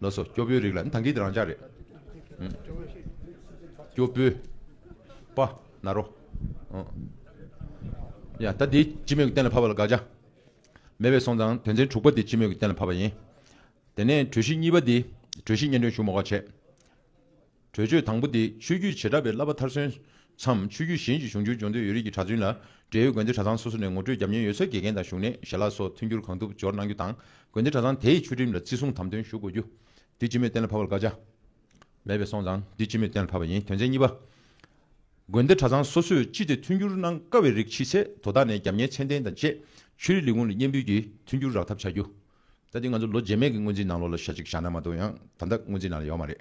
ལོ་སོ་སྐྱོ་པོའི་རིགས་ལ་ཐང་གིས་རང་འཇགས་རེད། སྐྱོ་པོའི། པ། ན་རོ། ཡ། ད་འདི་སྤྱི་མོས་ཀྱི་གཏན་ལ་ཕབ་པ་ལ་དགག་བྱ། མེད་པའི་སོང་ཙང་དོན་ཚན་དྲུག་པ་འདི་སྤྱི་མོས་ཀྱི་གཏན་ལ་ཕབ་པ་ཡིན། དེ་ནས་གྲོས་གཞི་གཉིས་པ་འདི་གྲོས་གཞི་སྙན་སྒྲོན་ཞུ་མོ་ཁ་བྱས། གྲོས་ཆོད་དང་པོ་དེ་ཆོས་བརྒྱུད་བྱེ་བྲག་པའི་བསླབ་པ་མཐར་སོན་མཚམས་ཆོས་བརྒྱུད་གཞན་གྱི་གཞུང་ཆོས་འབྱུང་འདོད་ཡོད་རིགས་ཀྱི་གྲྭ་བཙུན་ལ་འབྲེལ་ཡོད་དགོན་སྡེ་གྲྭ་ཚང་སོ་སོ་ནས་ངོ་སྤྲོད་བརྒྱབ་ཉེན་ཡོད་ཚད་དགེ་རྒན་དང་བཞུགས་གནས་ཞལ་ལག་སོགས་མཐུན་འགྱུར་གང་ཐུབ་སྦྱོར་གནང་རྒྱུ་དང་དགོན་སྡེ་གྲྭ་ཚང་དེའི་ཆོས་ཁྲིམས་ལ་བརྩི་སྲུང་དམ་དོན་ཞུ་དགོས་རྒྱུ། འདི་སྤྱི་མོས་གཏན་ལ་ཕབ་པར་བཀའ་ཆ། མེད་པའི་སོང་ཙང་འདི་སྤྱི་མོས་གཏན་ལ་ཕབ་པ་ཡིན་དོན་ཚན་གཉིས་པ། དགོན་སྡེ་གྲྭ་ཚང་སོ་སོས་སྤྱི་དེ་མཐུན་འགྱུར་གནང་དཀའ་བའི་རིགས་མཆིས་ཚེ་དོ་བདག་ནས་རྒྱབ་གཉེར་མཚན་ལྡན་དང་བཅས་ཆོས་རིག་ལས་ཁུངས་ལ་སྙན་འབུལ་གྱིས་མཐུན་འགྱུར་རག་ཐབས་བྱ་རྒྱུ། ད་ལྟའི་ང་ཚོ་ལོ་རྗེས་མས་ཀྱི་སྔོན་རྩིས་ནང་ལོགས་ལ་ཞག་གཅིག་བཞག་ན་མ་གཏོགས་ཡང་ད་ལྟ་སྔོན་རྩིས་ནང་ལ་ཡོད་མ་རེད།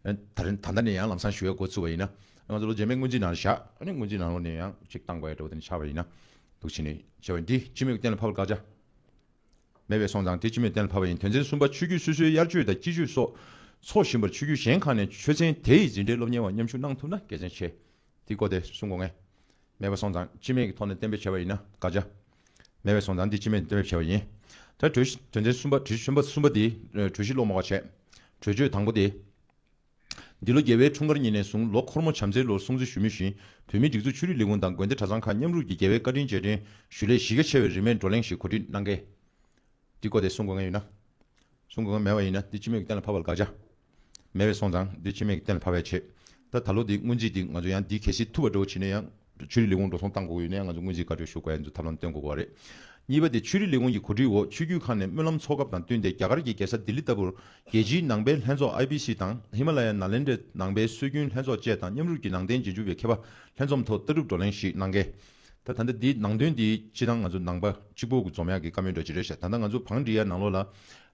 ད་ལྟ་ནས་ཡང་ལམ་སང་ཞུ་བའི་འགོ་ཚུགས་པ་ཡིན་ན། ང་ཚོ་ལོ་རྗེས་མས་སྔོན་རྩིས་ནང་ལ་བཞག་ནས་སྔོན་རྩིས་ནང་ལོགས་ནས་ཡང་ཅིག་བཏང་བ་ཡིན་འགྲོ་བ་དེ་ནི་ཆགས་པ་ཡིན། འདུག་བྱས་ནས་བྱས་པ་ཡིན་དེ་སྤྱི་མོས་ཀྱི་གཏན་ལ་ཕབ་པར་བཀག་ཆ་མེད་པས་སོང་ཙང་དེ་སྤྱི་མོས་གཏན་ལ་ཕབ་པ་ཡིན་དོན་ཚན་གསུམ་པ་ཆོས་བརྒྱུད་སོ་སོའི་དབྱར་མཆོད་དང་དཔྱིད་མཆོད་སོགས་འཚོགས་བཞིན་པར་ཆོས་བརྒྱུད་གཞན་ཁག་ནས་ཆོས་ཚན་དེ་ཡི་འཛིན་གྲྭའི་སློབ་གཉེར་བ་མཉམ་ཞུགས་གནང་ཐུབ་ན་དགེ་མཚན་ཆེ། དེའི་སྐོར་དེ་གསུངས་དགོས་ངེས་མེད་པ་སོང་ཙང་སྤྱི་མོས་ཀྱི་ཐོག་ནས་གཏན་འབེབས་བྱས་པ་ཡིན་ན་བཀག་ཆ། མེད་པའི་སོང་ཙང་འདི་ཅི་མེད་བསྟན་པའི་ཆེ་བ་ཡིན། ད་གྲོས་གཞི་དོན་ཚན་གསུམ་པ་གྲོས་གཞི་གསུམ་པ་གསུམ་པ་འདི་གྲོས་གཞི་སློབ་མ་བ་བྱས། གྲོས་ཆོད་དང་པོ་འདི། འདི་ལོ་རྒྱལ་བའི་འཁྲུངས་སྐར་ཉིན་ནས་བཟུང་ལོ་འཁོར་མོ་བྱམས་བརྩེའི་ལོར་སྲུང་བརྩི་ཞུ་མུས་བཞིན་བོད་མིའི་སྒྲིག་འཛུགས་ཆོས་རིག་ལས་ཁུངས་དང་དགོན་སྡེ་གྲྭ་ཚང་ཁག་མཉམ་རུབ་ཀྱིས་རྒྱལ་བའི་བཀའ་དྲིན་རྗེས་དྲན་ཞུ་སླད་གཞི་རྒྱ་ཆེ་བའི་རིས་མེད་བགྲོ་གླེང་ཞིག་གོ་སྒྲིག་གནང་གལ། འདི་བཀོད་དེ་གསུང་དགོས་ངེས་ཡོད་ན། གསུང་དགོས་ངེས་མེད་པ་ཡིན་ན་འདི་ཅི་མེད་ཀྱི་གཏན་ལ་ཕབ་པ་ལ་དགག་བྱ། མེད་པས་སོང་ཙང་འདི་ཕྱི་མིག་གི་གཏན་ལ་ཕབ་པའི་ཆེད། ད་ད་ལོ་འདི་སྔོན་རྩིས་འདི་ང་ཚོ་ཡང་འདི་གལ་སྲིད་ཐུབ་པ་འགྲོ་བ་བྱེད་ནས་ཡང། ཆོས་རིག་ལས་ཁུངས་འགྲོ་སོང་བཏང་གོ་གི་ཡོད་ནའི་ང་ཚོ་སྔོན་རྩིས་བཀའ་འཁྲོལ་ཞུ་དགོས་ཨེ་འདུག་ཐབས་ལམ་བསྟེན་དགོས་པ་རེད། གཉིས་པ་དེ་ཆོས་རིག་ལས་ཁུངས་ཀྱི་གོ་སྒྲིག་འོག་ཆོས་བརྒྱུད་ཁག་ནས་སྨོན་ལམ་ཚོགས་སྐབས་དང་བསྟུན་ཏེ་རྒྱ་གར་གྱི་རྒྱལ་ས་ལྡི་ལི་ལྟ་བུར། རྒྱལ་སྤྱིའི་ནང་པའི་ལྷན་ཚོགས IBC དང་ཧི་མ་ལ་ཡའི་ནཱ་ལེནྡྲའི་ནང་པའི་སྲོལ་རྒྱུན་ལྷན་ཚོགས་བཅས་དང་མཉམ་རུབ་ཀྱིས་ནང་བསྟན་རྗེས་འཇུག་པའི་མཁས་པ་ལྷན་འཛོམས་ཐོག་ལྟ་གྲུབ་བགྲོ་གླེང་ཞིག་གནང་གལ། ད་ད་ལྟ་འདི་ནང་དོན་འདི་ཕྱི་དང་ང་ཚོ་ནང་པ་གཅིག་པོ་རྫོང་མྱག་གི་བཀའ་མོལ་འདྲ་ཅི་རེད་ཤག་ད་ལྟ་ང་ཚོ་བང་འབྲི་ཡ་ནང་ལོག་ལ་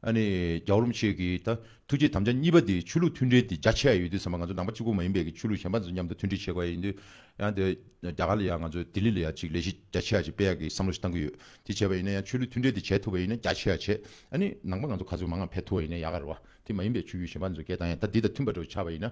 ཨ་ནི་རྒྱའོ་རུམ་ཆེ་གི་ད་ཐུགས་རྗེ་དམ་བཅའ་གཉིས་པ་འདི་ཆོས་ལུགས་མཐུན་འབྲེལ་འདི་རྒྱ་ཆེ་ཡ་ཡོད་དུས་ཟམ་པ་ང་ཚོ་ནང་པ་གཅིག་པོ་མ་ཡིན་པའི་གི་ཆོས་ལུགས་གཞན་པ་ཚོ་མཉམ་དུ་མཐུན་འབྲེལ་བྱེད་དགོས་ཡ་ཡིན་དུས་ཡང་འདི་རྒྱ་གར་ལ་ཡང་ང་ཚོ་ལྡི་ལི་ལ་ཡང་གཅིག་ལས་གཞི་རྒྱ་ཆེ་ཡ་གཅིག་སྤེལ་ཡ་གི་བསམ་བློ་ཞིག་བཏང་གི་ཡོད་དེ་བྱས་པ་ཡིན་ན་ཡང་ཆོས་ལུགས་མཐུན་འབྲེལ་འདི་བྱས་ཐུབ་པ་ཡིན་ན་རྒྱ་ཆེ་ཡ་བྱེད་ཨ་ནི་ནང་པ་ང་ཚོ་ག་ཚོད་མང་ང་ཕེབས་ཐུབ་བ་ཡིན་ན་ཡག་ག་རེད་བ་དེ་མ་ཡིན་པའི་ཆོས་རྒྱུད་གཞན་པ་ཚོ་སྐད་བཏང་ཡ་ད་འདི་དང་མཐུན་པ་འགྲོ་ཆགས་པ་ཡིན་ན་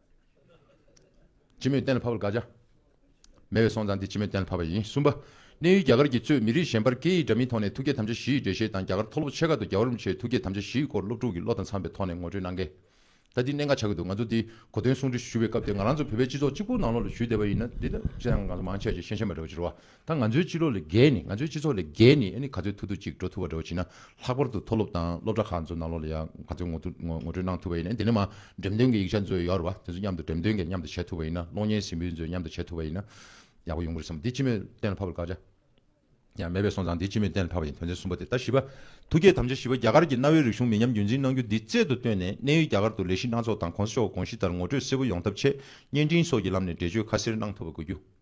སྤྱི་མོས་གཏན་ལ་ཕབ་པར་དགག་བྱ་མེད་པའི་སོང་ཙང་དེ་སྤྱི་མོས་གཏན་ལ་ཕབ་པ་ཡིན། གསུམ་པ། གནས་ཡུལ་རྒྱ་གར་གྱི་གཙོས་མི་རིགས་གཞན་པར་སྐད་ཡིག་འདྲ་མིན་ཐོག་ནས་ཐུགས་བསྐྱེད་དམ་བཅའ་བཞི་ཡི་འགྲེལ་བཤད་དང་རྒྱ་གར་མཐོ་སློབ་ཆེ་ཁག་ཏུ་རྒྱ་གར་རིན་པོ་ཆེའི་ཐུགས་བསྐྱེད་དམ་བཅའ་བཞིའི་སྐོར་སློབ་ཕྲུག་གི་བློ་དང་འཚམ་པའི་ཐོག་ནས་ངོ་སྤྲོད་གནང་གལ། ད་འདི་གནད་འགག་ཆགས་ཀྱི་འདུག་ང་ཚོ་འདི་གོ་དོན་གསུང་འཕྲིན་ཞུ་བའི་སྐབས་དེ་ང་རང་ཚོ་བོད་པའི་སྤྱི་ཚོགས་གཅིག་པོ་ནང་ལོགས་ལ་ཞུས་བསྡད་པ་ཡིན་ན་འདི་ལྟ་བུའི་བཤད་སྟངས་ངང་ཚོ་མང་ཆེ་བ་ཞིག་ཤེས་བྱ་མ་འདྲ་བ་ཅི་རོ། ད་ང་ཚོའི་སྤྱི་ལོ་ལས་བརྒལ་ནས་ང་ཚོའི་སྤྱི་ཚོགས་ལས་བརྒལ་ནས་ག་ཚོད་ཐུག་ཐུབ་ཅིག་འགྲོ་ཐུབ་བ་རེ་བ་བྱེད་ན་ལྷག་པར་དུ་མཐོ་སློབ་དང་སློབ་གྲྭ་ཁག་ཚོ་ནང་ལོགས་ལ་ཡང་ག་ཚོད་ངོ་སྤྲོད་གནང་ཐུབ་པ་ཡིན་ན་དེ་ནས་མ་འགྲེམས་སྟོན་གྱི་ཡིག་ཆ་ཚོ་ཡོད་རེད་བ་དེ་ཚོ་མཉམ་དུ་འགྲེམས་སྟོན་གྱི་མཉམ་དུ་བྱེད་ཐུབ་པ་ཡིན་ན་གློག་བརྙན་ཟིན་འབུལ་ཚོ་མཉམ་དུ་བྱེད་ཐུབ་པ་ཡིན་ན་ཡག་པོ་ཡོང་གི་རེད་བསམ་འདི་སྤྱི་མོས་གཏན་ལ་ཕབ་པར་བཀའ་ཅག་ཡང་མེད་པས་སོང་ཙང་འདི་སྤྱི་མོས་གཏན་ལ་ཕབ་པ་ཡིན་དོན་ཚན་གསུམ་པ་དེ་ལྟ་བཞི་པ། ཐུགས་བསྐྱེད་དམ་བཅའ་བཞི་པ་རྒྱ་གར་གྱི་གནའ་བོའི་རིག་གཞུང་མི་ཉམས་རྒྱུན་འཛིན་གནང་རྒྱུ་འདི་རྩལ་དུ་བཏོན་ནས་གནས་ཡུལ་རྒྱ་གར་དུ་ལས་གཞི་སྣ་ཚོགས་དང་གོང་ས་མཆོག་གི་དགོངས་གཞི་ལྟར་ངོ་སྤྲོད་གསལ་པོ་ཡོང་ཐབས་ཆེད་བརྙན་འཕྲིན་སོགས་ཀྱི་ལམ་ནས་འགྲེལ་བརྗོད་ཁ་གསལ་གནང་ཐུབ་པ་དགོས་རྒྱུ།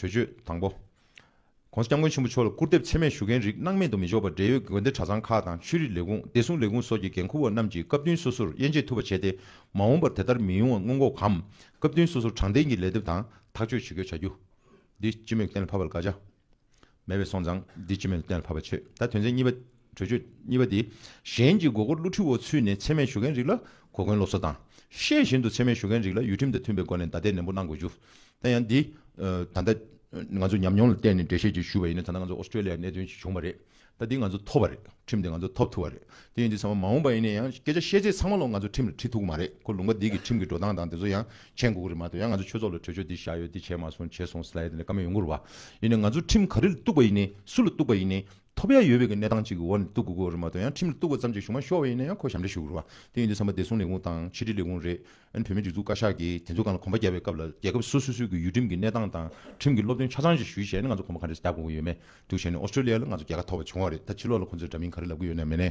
གྲོས་ཆོད་དང་པོ། ྋགོང་ས ྋསྐྱབས་མགོན་ཆེན་པོ་མཆོག་ལ་སྐུར་འདེབས་ཚད་མས་ཞུ་མཁན་རིགས་སྣང་མེད་དུ་མི་འཇོག་པར་འབྲེལ་ཡོད་དགོན་སྡེ་གྲྭ་ཚང་ཁག་དང་ཆོས་རིག་ལས་ཁུངས་བདེ་སྲུང་ལས་ཁུངས་སོགས་ཀྱི་འགན་འཁུར་བ་རྣམས་ཀྱིས་སྐབས་བསྟུན་སོ་སོར་དབྱེ་འབྱེད་ཐུབ་པ་བྱས་ཏེ་མ་འོངས་པར་དེ་ལྟར་མི་ཡོང་བ་སྔོན་འགོག་གམ་སྐབས་བསྟུན་སོ་སོར་དྲང་བདེན་གྱི་ལས་དེབ་དང་ཐག་གཅོད་ཇུས་འགོད་བྱ་རྒྱུ། འདི་སྤྱི་མོས་གཏན་ལ་ཕབ་པ་ལ་དགག་བྱ། མེད་པའི་སོང་ཙང་འདི་སྤྱི་མེད་དུ་གཏན་ལ་ཕབ་པ་ཆོས་ད་དོན་ཚན་གཉིས་པ། གྲོས་ཆོད་གཉིས་པ་འདི་གཞན་གྱི་མགོ་སྐོར་བསླུ་ཁྲིད་འོག་ཚུད་ནས་འཚེ་མེད་ཞུ་མཁན་རིགས་ལ་གོ་བསྐོན་སློབ་གསོ་དང། ཤེས་བཞིན་དུ་འཚེ་མེད་ཞུ་མཁན་རིགས་ལ་ཡུལ་ཁྲིམས་དང་མཐུན་པའི་སྒོ་ནས་བདའ་འདེད་ནན་པོ་གནང་དགོས་རྒྱུ། དེ་ཡང་འདི། ད་ལྟ། ང་ཚོ་ཉམས་མྱོང་ལ་བརྟེན་ནས་འགྲེལ་བཤད་ཅིག་ཞུས་པ་ཡིན་ན་ད་ལྟ་ང་ཚོ Australia གནད་དོན་ཞིག་བྱུང་བ་རེད། ད་འདི་ང་ཚོ་ཐོབ་པ་རེད་ཁྲིམས་འདི་ང་ཚོ་ཐོབ་ཐུབ་པ་རེད། དེ་ཡིན་དུས་ཚང་མ་མ་འོངས་པ་ཡིན་ན་ཡང་སྐད་ཆ་བཤད་ཚད་ཚང་མ་ལོ་ང་ཚོ་ཁྲིམས་ལ་ཁྲིད་ཐུབ་ཀྱི་མ་རེད་ཁོ་ལུང་པ་འདི་གི་ཁྲིམས་ཀྱི་འགྲོ་སྟངས་དང་དེ་ཚོ་ཡང་མཆན་འགོ་གི་རིང་མ་ཐོན་ཡང་ང་ཚོ་ཆོས་ཚོགས་ལ་གྲོས་ཆོད་འདི་བཞག་ཡོད་འདི་བྱས་མ་སོང་བྱས་སོང་ཟེར་ལ་ཡོད་དེ་ལས་ཀ་མེད་ཡོང་གི་རུ་བ། ཡིན་ནའི་ང་ཚོ་ཁྲིམས་ག་རེ་ལ་གཏུགས་པ་ཡིན་ནའི་སུ་ལ་གཏུགས་པ་ཡིན་ནའི། ཐོབ་ཡ་ཡོད་བའི་གི་གནས་སྟངས་གཅིག་གི་འོག་ནས་གཏུགས་དགོས་གི་རུ་མ་ཐོན་ཡང་ཁྲིམས་ལ་གཏུགས་པ་ཙམ་གྱིས་ཞུ་མ་ཤོར་བ་ཡིན་ནའི་ཡང་ཁོ་ཞབས་འདྲེན་ཞུ་གི་རུ་བ། དེ་ཡིན་དུས་བསམ་པ་བདེ་སྲུང་ལས་ཁུངས་དང་ཕྱི་དྲིལ་ལས་ཁུངས་རེད། ཨན་བོད་མིའི་སྒྲིག་འཛུགས་བཀའ་ཤག་གིས་དེ་ཚོ་གང་ལ་གོམ་པ་རྒྱབ་པའི་སྐབས་ལ་རྒྱལ་ཁབ་སོ་སོ་སོའི་གི་ཡུལ་ཁྲིམས་ཀྱི་གནས་སྟངས་དང་ཁྲིམས་ཀྱི་སློབ་སྟོན་ཆ་ཚང་ཞིག་ཞུས་བྱས་ནས་ང་ཚོ་གོམ་པ་ག་རེ་རྒྱབ་དགོས་གི་ཡོད་མེད་དུ་བྱས་ནས་ཨོ་སི་ཏྲོ་ལི་ཡ་ལ་ང་ཚོ་རྒྱལ་ཁ་ཐོབ་པ་བྱུང་བ་རེད་ད་ཕྱི་ལོག་ལ་ཁོ་ཚོས་འདྲ་མིན་ག་རེ་ལབ་གི་ཡོད་ནའི་མེད་ནའི།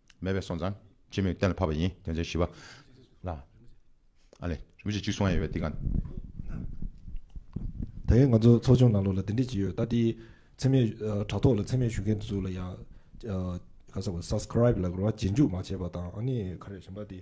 མེད་པའི་སོང་ཙང། ཅི་མོས་གཏན་ལ་ཕབ་པ་ཡིན་དོན་ཚན་བཞི་བ། ལ། ཨ་ལས། རིམ་བཞིན་གཅིག་སོང་ཡ་ཡོད་པའི་དེ་ག། ད་ཡིན་ང་ཚོ་ཚོགས་ཆུང་ནང་ལོགས་ལ་འདི་འདྲི་བྱེད་ཡོད་ལྟ་དེ། འཚེ་མེད། དྲ་ཐོག་ལ་འཚེ་མེད་ཞུ་མཁན་དེ་ཚོ་ལ་ཡང། ག་ས་བ Subscribe ལ་གོ་ར་རྗེས་འཇུག་མ་བྱས་པ་དང་ཨ་ནི་ག་རེ་ཞེན་པ་དེ།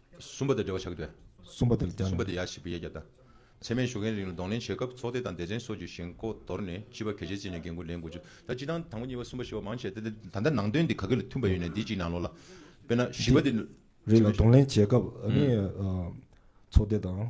གསུམ་པ་དང་འབྲེལ་བ་བྱ་དགོས། གསུམ་པ་དེར་བརྟེན། གསུམ་པ་དེ་ཡག་བཞི་པའི་ཡ་གྱལ་དང། ཚད་མའི་ཞོགས་ཀའི་རིང་ལ་གདོང་ལེན་བྱེད་སྐབས་ཚོགས་སྡེ་དང་སྡེ་ཚན་སོགས་ཀྱི་ཞེན་ཁོག་དོར་ནས་སྤྱི་པ་གལ་ཆེ་བརྩིས་ནས་འགན་ཁུར་ལེན་དགོས། ད་སྤྱི་དང་དང་པོ་གཉིས་པ་གསུམ་པ་བཞི་པ་མང་ཆེ་བསྟན་ཏེ། ད་ལྟ་ནང་དོན་དེ་ག་གེ་ལ་མཐུན་པ་ཡོད་ནས་འདི་གཅིག་ནང་ལོགས་ལ། དཔེར་ན་བཞི་པ་དེ། རིང་ལ་གདོང་ལེན་བྱེད་སྐབས། ཚོགས་སྡེ་དང།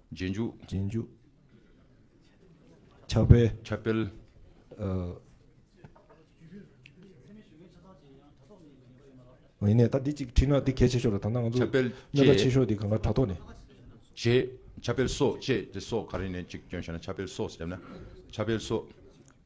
རྗེས་འཇུག། རྗེས་འཇུག། ཕྱག་དཔེ། ཕྱག་དཔེ། ཡིན་ནས་ད་འདི་གཅིག་ཁྲིད་ན་འདི་གལ་ཆེ་ཤོས་རེད་ད་ནང་ང་ཚོ་ཕྱག་དཔེ། གནད་ཀ་ཆེ་ཤོས་འདི་གང་ག་དྲ་ཐོག་ནས། རྗེས། ཕྱག་དཔེ་སོགས་བཅས་དེ་སོགས་ག་རེ་ནས་གཅིག་བསྐྱོན་བྱས་ན་ཕྱག་དཔེ་སོགས་སུ་བསྡེབས་ན། ཕྱག་དཔེ་སོགས།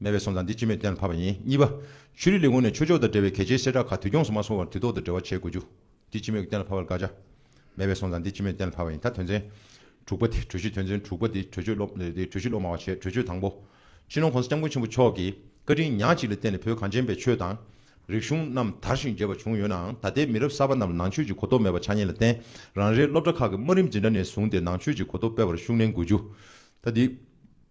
མེད་པའི་སོང་ཙང་འདི་ཅི་མེད་གཏན་ལ་ཕབ་པ་ཡིན་གཉིས་པ། ཆོས་རིག་ལས་ཁུངས་ནས་ཆོས་ཕྱོགས་དང་འབྲེལ་བའི་གལ་ཆེའི་གསལ་བསྒྲགས་ཁག་དུས་སྐྱོང་སུ་མ་སོང་བར་དུས་ཐོག་ཏུ་འབྲེལ་བ་བྱེད་དགོས་རྒྱུ། འདི་ཅི་མེད་གཏན་ལ་ཕབ་པར་དགག་བྱ། མེད་པའི་སོང་ཙང་འདི་ཅི་མེད་གཏན་ལ་ཕབ་པ་ཡིན་ད་དོན་ཚན། དྲུག་པ། གྲོས་གཞི་དོན་ཚན་དྲུག་པ་འདི་གྲོས་ཆོད་སློབ་གྲོས་གཞི་སློབ་མང་བ་བྱས་གྲོས་ཆོད་དང་པོ། ཕྱི་ནང་གོང་ས་སྐྱབས་མགོན་ཆེན་པོ་མཆོག་གིས་བཀའ་དྲིན་ཉག་གཅིག་ལ་བརྟེན་ནས་བོད་གངས་ཅན་པའི་ཆོས་དང། རིག་གཞུང་རྣམས་དར་ཞིང་རྒྱས་པ་བྱུང་ཡོད་ནའང་ད་ལྟའི་མི་རབས་གསར་པ་རྣམས་ལ་ནང་ཆོས་ཀྱི་གོ་རྟོགས་མེད་པ་ཆགས་ཉེན་ལ་བརྟེན་རང་རེའི་སློབ་གྲྭ་ཁག་གི་དམའ་རིམ་འཛིན་གྲྭ་ནས་བཟུང་སྟེ་ནང་ཆོས་ཀྱི་གོ་རྟོགས་སྤེལ་བར་ཤུགས་བསྣན་དགོས་རྒྱུ། ད་དེ།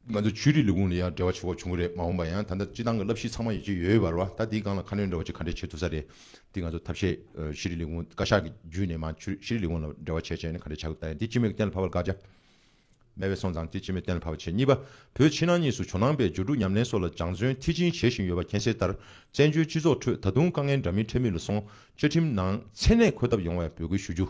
ང་ཚོའི་ཆོས་རིག་ལས་ཁུངས་ལ་ཡང་འབྲེལ་བ་བྱེད་ཁོག་བྱུང་གི་རེད་མ་འོངས་པ་ཡང་ད་ལྟ་སྤྱི་བཏང་གི་བསླབ་གཞི་ཚང་མ་ཡོད་ཀྱི་ཡོད་པར་བ་ད་དེའི་སྒང་ལ་ཁ་སྣོན་འདྲ་བ་ཅིག་ག་འདྲས་བྱེད་ཐུབ་ས་རེད་དེ་ང་ཚོ་ཐབས་ཤེས་ཤེས་རིག་ལས་ཁུངས་བཀའ་ཤག་གི་བརྒྱུད་ནས་མ་ཆོས་ཤེས་རིག་ལས་ཁུངས་ལ་འབྲེལ་བ་བྱེད་ཅེས་ནས་ག་འདྲས་བྱ་དགོས་ད་ཡིན་དེ་སྤྱི་མོས་ཀྱི་གཏན་ལ་ཕབ་པར་དགའ་བྱ། སྨད་བས་སོང་ཙང་དེ་སྤྱི་མོས་གཏན་ལ་ཕབ་པར་བྱེད་གཉིས་པ་བོད་ཕྱི་ནང་གཉིས་སུ་ཇོ་ནང་པའི་སྦྱོར་དྲུག་ཉམས་ལེན་སོགས་ལ་སྦྱང་བརྩོན་མཐིལ་ཕྱིན་བྱེད་བཞིན་ཡོད་པ་མཁྱེན་གསལ་ལྟར་བཙན་བྱོལ་སྤྱི་ཚོགས་ཁྲོད་ད་དུང་དཀའ་ངལ་འདྲ་མིན་འཕྲད་མུས་ལ་སོང་བཅའ་ཁྲིམས་ནང་མཚན་གནས་འཁོད་ཐབས་ཡོང་བའི་འབོད་སྐུལ་ཞུ་རྒྱུ།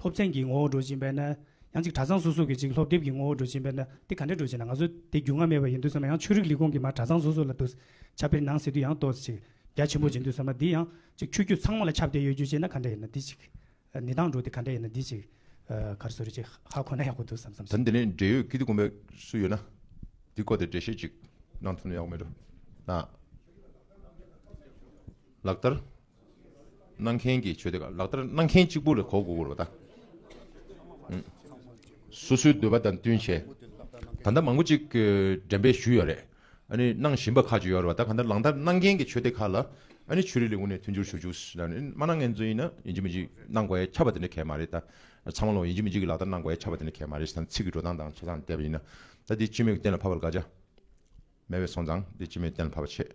སློབ་ཚན་གྱི་ངོ་བོར་འགྲོ་བཞིན་པས་ན། ཡང་ཅིག་གྲྭ་ཚང་སོ་སོ་གིས་ཅིག་སློབ་དེབ་ཀྱི་ངོ་བོར་འགྲོ་བཞིན་པས་ན། དེ་ག་འདྲས་འགྲོ་ཞེ་ན་ང་ཚོ་དེ་རྒྱུས་མངའ་མེད་པ་ཡིན་དུས་བསམ་ན་ཡང་ཆོས་རིག་ལས་ཁུངས་ཀྱི་མར་གྲྭ་ཚང་སོ་སོ་ལ་བསྡུ། ཆ་དཔེར་ནང་གསེས་དུས་ཡང་ཏོག་ཅིག་རྒྱ་ཆེན་པོ་འབྱིན་དུས་བསམ་ན་འདི་ཡང་ཅིག་ཆོས་བརྒྱུད་ཚང་མ་ལ་ཁྱབ་བརྡལ་ཡོད་རྒྱུ་ཅེ་ན་ག་འདྲས་ཡིན་ན་འདི་ཅིག། ནི་དང་འགྲོ་དེ་ག་འདྲས་ཡིན་ན་འདི་ཅིག། གར་སོ་རེ་ཅིག་ཧ་ཁོ་ན་ཡག་པོ་འདུག་བསམ་བསམ་ཞིག། ད་འདི་ནས་འབྲེལ་ཡོད་ཀི་ཏི་ཀོ་མེད་སུ་ཡོད་ན། འདི་སྐོར་དེ་འབྲེལ་བཤད་ཅིག་གནང་ཐུབ་ན་ཡག་པོ་མེད་འགྲོ། ལག་བསྟར། གནང་མཁན་གྱི་ཆོས་དེ་ལག་བསྟར་གནང་མཁན་གཅིག་པུ་ལས་གོ་དགོས་པར་བ་དང། སོ་སོའི་འདོད་པ་དང་བསྟུན་བྱས། ད་ལྟ་མང་པོ་ཅིག་འགྲེམས་སྤེལ་ཞུས་ཡོད་རེད། གནང་བཞིན་པ་ཁག་ཅིག་ཡོད་རེད་བ་དང་གནང་བསྟར་གནང་མཁན་གྱི་ཆོས་དེ་ཁག་ལ་ཆོས་རིག་ལས་ཁུངས་ནས་མཐུན་འགྱུར་ཞུ་འཇུག་མ་གནང་མཁན་ཚོ་ཡིན་ན་ཡིན་གཅིག་མིན་གཅིག་གནང་དགོས་ཡ་ཆ་བ་དེ་འདྲ་གལ་མ་རེད། ཚང་མ་ལའང་ཡིན་གཅིག་མིན་གཅིག་གིས་ལག་བསྟར་གནང་དགོས་ཡ་ཆ་བ་དེ་འདྲ་གལ་མ་རེད་ཞེས་དང་ཚིག་གི་འགྲོ་སྟངས་དང་བྱེད་སྟངས་དེ་ཡིན་ན། ད་འདི་སྤྱི་མོས་ཀྱི་སྟེང་ལ་ཕབ་པར་དགའ་བྱ། མེད་པའི་སོང་ཙང་འདི་ཅི་མི་བདེན་བར་ཆད་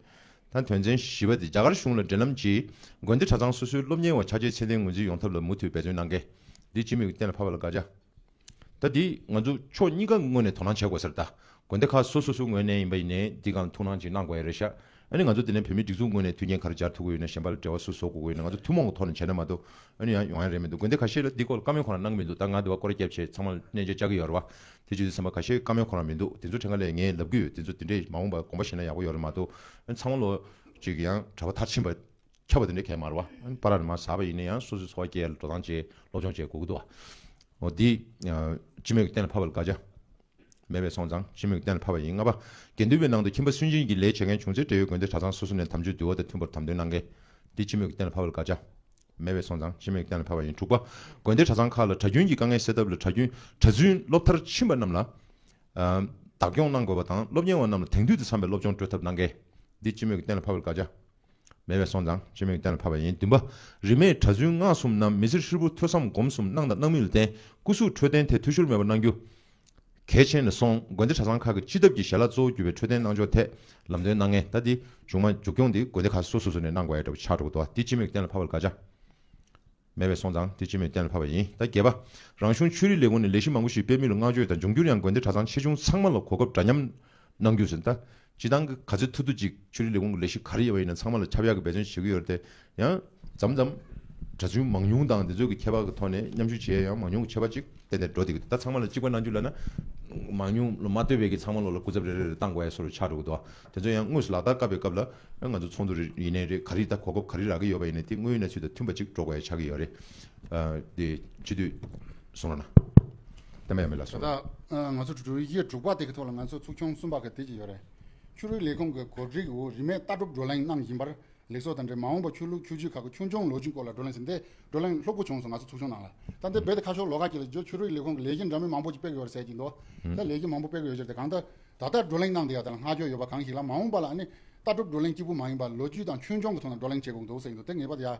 དང་དོན་ཚན་བཞི་པ་དེ་རྒྱ་གར་གཞུང་ལ་འབྲེལ་ལམ་གྱིས་དགོན་སྡེ་གྲྭ་ཚང་སོ་སོའི་སློབ་གཉེར་བ་ཆ་བྱད་ཚད་ལྡན་ངོས་འཛིན་ཡོང་ཐབས་ལ་མུ་མཐུད་འབད་བརྩོན་གནང་གལ། འདི་ཅི་མི་བདེན་བར་ལ་དགག་བྱ་ད་འདི་ང་ཚོ་ཕྱོགས་གཉིས་ཀ་ངོས་ནས་དོ་སྣང་བྱེད་དགོས་ཟེར་ད་དགོན་སྡེ་ཁག་སོ་སོ་སོའི་ངོས་ནས་ཡིན་པ་ཡིན་ནའི་འདི་གང་ཐུགས་སྣང་གཅིག་གནང་དགོས་ཡ་རེད་ཤག་ཨ་ནི་ང་ཚོ་དེ་ནས་བོད་མིའི་སྒྲིག་འཛུགས་ངོས་ནས་མཐུན་རྐྱེན་ག་རེ་སྦྱར་ཐུབ་དགོས་ཡོད་ན་གཞན་པ་ལ་འབྲེལ་བ་སུ་བཟོ་དགོས་དགོས་ཡོད་ན་ང་ཚོ་ཐུན་མོང་གི་ཐོག་ནས་བྱས་ན་མ་གཏོགས་ཨ་ནི་ཡང་ཡོང་ཡ་རེད་མི་འདུག་དགོན་སྡེ་ཁ་ཤས་ལ་འདི་སྐོར་ལ་བཀའ་མོལ་གོ་ནང་གནང་གི་མི་འདུག་ད་ང་འདི་བ་སྐོར་རྒྱབ་ཆེད་ཚང་མ་ལ་གནས་མཇལ་བཅར་གི་ཡོད་རེད་བ། དེ་བྱེད་དུ་སེམས་པ་ག་ཤེད་དཀའ་མོད་ཁོ་རང་མི་འདུག་དེ་ཚོ་ཕྲན་ག་ལས་ངས་ལབ་གི་ཡོད་དེ་ཚོ་དེ་འདྲས་མ་འོངས་པར་གོམ་པ་བཞེས་ན་ཡག་པོ་ཡོད་རེད་མ་གཏོགས་ཚང་མ་ལོ་གཅིག་གི་ཡང་གྲྭ་པ་མཐར་ཕྱིན་པ་ཁྱབ་པ་དེ་འདྲས་ཁས་མ་ར་བ་ར་རེད་མ་ཟ་བ་ཡིན་ན་ཡང་སོ་སོའི་འཚོ་བ་སྐྱེལ་ཡར་འགྲོ་སྟངས་བཅས་སློབ་སྦྱོང་བྱེད་དགོས་ཀྱི་འདུག་ཨོ་དེ་སྤྱི་མོས་ཀྱི་གཏན་ལ་ཕབ་པ་ལ་དགའ་ཆ་མེད་པས་སོང་ཙང་སྤྱི་མོས་ཀྱི་གཏན་ལ་ཕབ་པ་ཡིན་ལྔ་པ་དགེ་འདུན་པའི་ནང་དུ་ཁྱིམ་པ་སུན་འབྱིན་གྱི་ལས་བྱེད་མཁན་བྱུང་ཚེ་འབྲེལ་ཡོད་དགོན་སྡེ་གྲྭ་ཚང་སོ་སོ་ནས་དམ་ཆོས་འདུལ་བ་དང་མཐུན་པར་དམ་དོན་གནང་གལ་དེ་སྤྱི་མོས་ཀྱི་གཏན་ལ་ཕབ་པ་ལ་དགའ་ཆ་མེད་པའི་སོང་ཙང་ཤི་མེད་གཏན་ལ་ཕབ་པ་ཡིན་དྲུག་པ། དགོན་སྡེ་གྲྭ་ཚང་ཁག་ལ་གྲྭ་རྒྱུན་གྱི་དཀའ་ངལ་སེལ་ཐབས་ལ་གྲྭ་རྒྱུན་གྲྭ་བཙུན་སློབ་མཐར་ཕྱིན་པ་རྣམས་ལ། བདག་སྐྱོང་གནང་དགོས་པ་དང་སློབ་གཉེར་བ་རྣམས་ལ་དེང་དུས་དང་འཚམ་པའི་སློབ་སྦྱོང་སྤྲོད་ཐབས་གནང་གལ། འདི་ཅི་མོད་ཀྱི་གཏན་ལ་ཕབ་པར་དགའ་བྱ། མེད་པའི་སོང་ཙང་ཤི་མེད་ཀྱི་གཏན་ལ་ཕབ་པ་ཡིན་བདུན་པ། རིས་མེད་གྲྭ་བཙུན་སྔགས་གསུམ་རྣམས་མི་ཚེར་ཧྲིལ་པོ་ཐོས་བསམ་སྒོམ་གསུམ་གནང་དང་གནང་མུས་ལ་བརྟེན་སྐུ་གཟུགས་འཕྲོད་བསྟེན་ཐད་འཐུས་ཤོར་མེད་པར་གནང་རྒྱུ། གལ་ཆེན་ནས་བཟུང་དགོན་སྡེ་གྲྭ་ཚང་ཁག་གི་སྤྱི་ཐབས་ཀྱི་ཞལ་ལག་གཙོ་བོ་བརྒྱུད་པའི་འཕྲོད་བསྟེན་གནང་ཕྱོགས་ཐད་ལམ་སྟོན་གནང་ངེས་ད་འདི་མཇུག་མ་མཇུག་སྐྱོང་འདི་དགོན་སྡེ་ཁག་སོ་སོ་སོ་ནས་གནང་དགོས་ཨེ་འདྲ་བོ་ཆགས་འགྲོ་གི་འདུག་འདི་སྤྱི་མོས་ཀྱི་གཏན་ལ་ཕབ་པར་དགག་བྱ་མེད་པས་སོང་ཙང་འདི་སྤྱི་མོས་གཏན་ལ་ཕབ་པ་ཡིན་ད་རྒྱལ་བ་རང་གཞུང་ཆོས་རིག་ལས་ཁུངས་ནས་ལས་གཞི་མང་པོ་ཞིག་སྤེལ་མུས་ལ་བསྔགས་བརྗོད་དང་འབྱུང་འགྱུར་ཡང་དགོན་སྡེ་གྲྭ་ཚང་ཆེ་ཆུང་ཚང་མ་ལ་གོ་སྐབས་འདྲ་མཉམ་གནང་རྒྱུ་ཟིན་ད་སྤྱི་བཏང་གི་ག་ཚོད་ཐུབ་ཐུབ་ཅིག་ཆོས་རིག་ལས་ཁུངས་ཀྱི་ལས་ཞུགས་ག་རེ་ཡོད་པ་ཡིན་ན་ཚང་མ་ལ་ཁྱབ་ཡག་གི་འབད་བརྩོན་བྱེད་ཀྱི་ཡོད་རེད་དེ། ཡང་འཛམ་འཛམ། གྲྭ་བཙུན་མང་ཉུང་དང་དེ་ཚོ་གི་ཁྱད་པར་གྱི་ཐོག་ནས་མཉམ་ཞུགས་བྱེད་ཡག་ཡང་མང་ཉུང་གི་ཁྱད་པར་ཅིག་གཏན་ནས་འགྲོ་བསྡད་ཀྱི་འདུག་ད་ཚང་མ་ལ་གཅིག་པ་གནང་རྒྱུ་ལ་ན། མང་ཉུང་ལ་མ་ལྟོས་པའི་གི་ཚང་མ་ལོ་ལ་སྐུ་ཚབ་རེ་རེ་རེ་བཏང་དགོས་ཡག་སོགས་རེ་ཆགས་འགྲོ་གི་འདུག་དེ་ཚོ་ཡང་དངོས་སུ་ལག་བསྟར་བཀབ་པའི་སྐབས་ལ། ང་ཚོ་ཚོགས་འདུ་རེ་ཡིན་ནའི་རེད་ག་རེ་ད་གོ་སྐབས་ག་རེ་རག་གི་ཡོད་པ་ཡིན་ནའི་དེ་དངོས་ཡོད་གནས་ཚུལ་དང་མཐུན་པ་ཅིག་འགྲོ་དགོས་ཡག་ཆགས་ཀྱི་ཡོད་རེད། དེ་ཅི་དུས་སོང་རོགས་གནང། ཨ་མའི་ཨ་མའི་ལ་སོང་རོགས། ད་ལྟ་ང་ཚོ་གྲུ་བཞི་གྲུ་དགུ་པ་དེ་གི་ཐོག་ལ་ང་ཚོ་ཚོགས་ཆུང་གསུམ་པ་གི་དེ་གཅིག་ཡོད་རེད། ཆུ་རུལ་ལས་ཁུངས་ཀྱི་གོ་སྒྲིག་འོག་རིན་མེད་ལྟ་གྲུབ་བགྲོ་གླེང་གནང་བཞིན་པར་ལེགས་ཚོགས་དང་འབྲེལ་མ་འོངས་པར་ཆོས་ལུགས་ཆོས་བརྒྱུད་ཁག་གི་ཆོས་འབྱུང་ལོ་རྒྱུས་སྐོར་ལ་བགྲོ་གླེང་ཟེར་འདི་བགྲོ་གླེང་ལྷུག་པོ་བྱུང་སོང་ང་ཚོ་ཚོགས་ཆུང་ནང་ལ། ད་ལྟའི་རྦད་དེ་ཁ་ཤོར་ལོ་ཁག་ཅིག་ལ་རྗེས་ཆུ་རུལ་ལས་ཁུངས་ཀྱི་ལས་གཞི་འདྲ་མིན་མང་པོ་ཅིག་སྤེལ་གི་ཡོད་རེད་ཟེར་གྱི་འདུག་ད་ལས་གཞི་མང་པོ་སྤེལ་གི་ཡོད་ཟེར་ཏེ་གང་ལྟར་ད་ལྟ་བགྲོ་གླེང་གནང་འདི་ཡ་ད་ལ་སྔ་འགྱོ་ཡོད་པ་གང་ཞིག་ལ་མ་འོངས་པ་ལ་ཨ་ནི་ལྟ་གྲུབ་བགྲོ་གླེང་གཅིག་པུ་མ་ཡིན་པར་ལོ་རྒྱུས་དང་ཆོས་འབྱུང་གི་ཐོག་ན་བགྲོ་གླེང་བྱེད་དགོས་གི་འདུག་ཟེར་གྱི་འདུག་དེ་ངེས་པ་དེ་ཡ།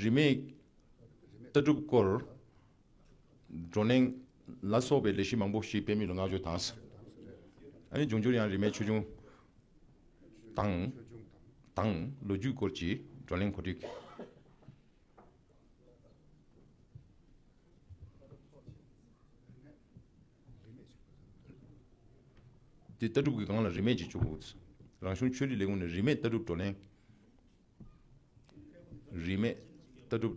རིས་མེད་ལྟ་གྲུབ་སྐོར་བགྲོ་གླེང་ལ་སོགས་པའི་ལས་གཞི་མང་པོ་ཞིག་སྤེལ་མུས་ལ་བསྔགས་བརྗོད་དང་ཨ་འབྱུང་འགྱུར་ཡང་རིས་མེད་ཆོས་འབྱུང་དང། ལོ་རྒྱུས་སྐོར་གྱི་བགྲོ་གླེང་གོ་སྒྲིག། དེ་ལྟ་གྲུབ་ཀྱི་སྒང་ལ་རིས་མེད་ཅིག་བྱུང། རང་གཞུང་ཆོས་རིག་ལས་ཁུངས་ནས་རིས་མེད་ལྟ་གྲུབ་བགྲོ་གླེང། རིས་མེད་ལྟ་གྲུབ་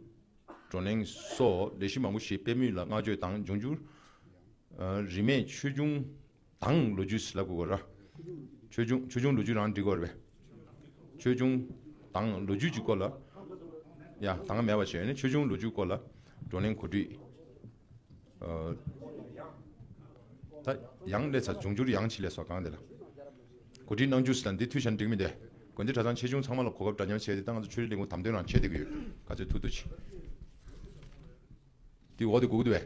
བགྲོ་གླེང་སོགས་ལས་གཞི་མང་པོ་ཞིག་སྤེལ་མུས་ལ་བསྔགས་བརྗོད་དང་འབྱུང་འགྱུར་རིས་མེད་ཆོས་འབྱུང་དང་ལོ་རྒྱུས་ལ་གོ་ར། ཆོས་འབྱུང་ཆོས་འབྱུང་ལོ་རྒྱུས་རང་འགྲིག་གོ་ར། ཆོས་འབྱུང་དང་ལོ་རྒྱུས་ཀྱི་སྐོར་ལ། ཡ། ད་སྔ་མེད་པ་ཞིག་ཡོད་ནི་ཆོས་འབྱུང་ལོ་རྒྱུས་སྐོར་ལ་བགྲོ་གླེང་གོ་སྒྲིག། ཡང་ལས་ཚར་འབྱུང་འགྱུར་ཡང་ཆེ་ལས་སོགས་གང་དེ་ལ་གོ་སྒྲིག་གནང་རྒྱུ་ཞིག་དང་འདི་འཐུས་ཞར་འགྲིག་མིན་དེ་དགོན་སྡེ་གྲྭ་ཚང་ཆེ་ཆུང་ཚང་མ་ལ་གོ་སྐབས་འདྲ་མཉམ་བྱས་ཏེ་ད་ང་ཚོ་ཆོས་རིག་ལས་ཁུངས་དམ་དོན་རང་ཆེད་དེ་གི་ཡོད་ག་ཚོད་ཐུག་ཐུག་ཅིག་དེ་འོག་དེ་གུག་བསྡུ་བས།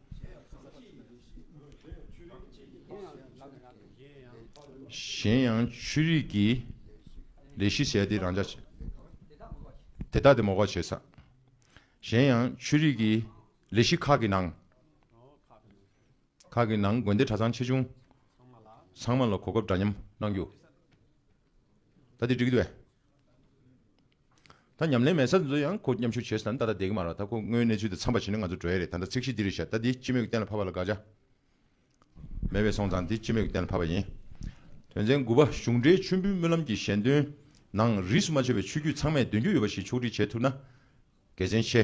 གཞན་ཡང་ཆོས་རིག་གི་ལས་བཞི་ཟད་དེ་རང་ཅག། དེ་དག་དེ་མོ་བ་བྱེད་ས། གཞན་ཡང་ཆོས་རིག་གི་ལས་བཞི་ཁག་གི་ནང། ཁག་གི་ནང་དགོན་སྡེ་གྲྭ་ཚང་ཆེ་ཆུང། ཚང་མ་ལ་གོ་སྐབས་འདྲ་མཉམ་གནང་རྒྱུ། ད་དེ་འགྲིག་གི་རེད། ད་ཉམས་ལེན་མེད་ས་འདི་ཡང་ཁོ་མཉམ་ཞུགས་བྱེད་ས་ནི་ད་ལྟ་བསྡད་ཀྱི་མ་རེད་ད་ཁོ་དངོས་གནས་ཚུལ་དེ་འཚམས་པ་བྱེད་ན་ང་ཚོ་བྲོས་ཡས་རེད་ད་ལྟ་ཚིག་གཞི་འདི་རེད་བཤད་ད་འདི་སྤྱི་མོས་ཀྱི་གཏན་ལ་ཕབ་པ་ལ་དགག་བྱ་མེད་པས་སོང་ཙང་འདི་སྤྱི་མོས་ཀྱི་གཏན་ལ་ཕབ་པ་ཡིན། དོན་ཚན་དགུ་པ་གཞུང་འབྲེལ་མཆོད་འབུལ་སྨོན་ལམ་གྱི་ཞལ་འདོན་ནང་རིས་སུ་མ་ཆད་པའི་ཆོས་བརྒྱུད་ཚང་མས་འདོན་རྒྱུ་ཡོད་པ་ཞིག་ཕྱོགས་སྒྲིག་བྱེད་ཐུབ་ན་དགེ་མཚན་ཆེ།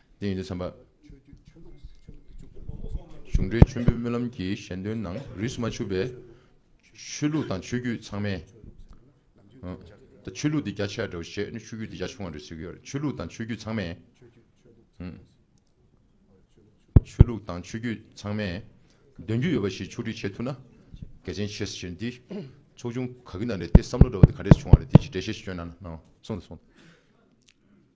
དེ་ཡིན་དུ་བསམ་པ། གཞུང་འབྲེལ་མཆོད་འབུལ་སྨོན་ལམ་གྱི་གཞན་དོན་ནང་རིས་སུ་མ་ཆུད་པའི། ཆོས་ལུགས་དང་ཆོས་བརྒྱུད་ཚང་མས། ཆོས་ལུགས་དེ་རྒྱ་ཆེ་བ་འདྲ་བོ་བཤད་ནས་ཆོས་བརྒྱུད་དེ་རྒྱ་ཆུང་བ་འདྲ་བོ་བཤད་ཀྱི་ཡོད་རེད། ཆོས་ལུགས་དང་ཆོས་བརྒྱུད་ཚང་མས། ཆོས་ལུགས་དང་ཆོས་བརྒྱུད་ཚང་མས། འདོན་རྒྱུ་ཡོད་པ་ཞིག་ཕྱོགས་སྒྲིག་བྱེད་ཐུབ་ན། གལ་ཆེན་ཆེ་ས་བྱས་ནས་དེ། ཚོགས་ཆུང་ག་གི་ནང་ནས་དེ་བསམ་བློ་འདྲ་བ་དེ་ག་རེས་བྱུང་བ་རེད་དེ་ཅིག་འགྲེལ་བཤད་ཤིག་བསྐྱོན་ན།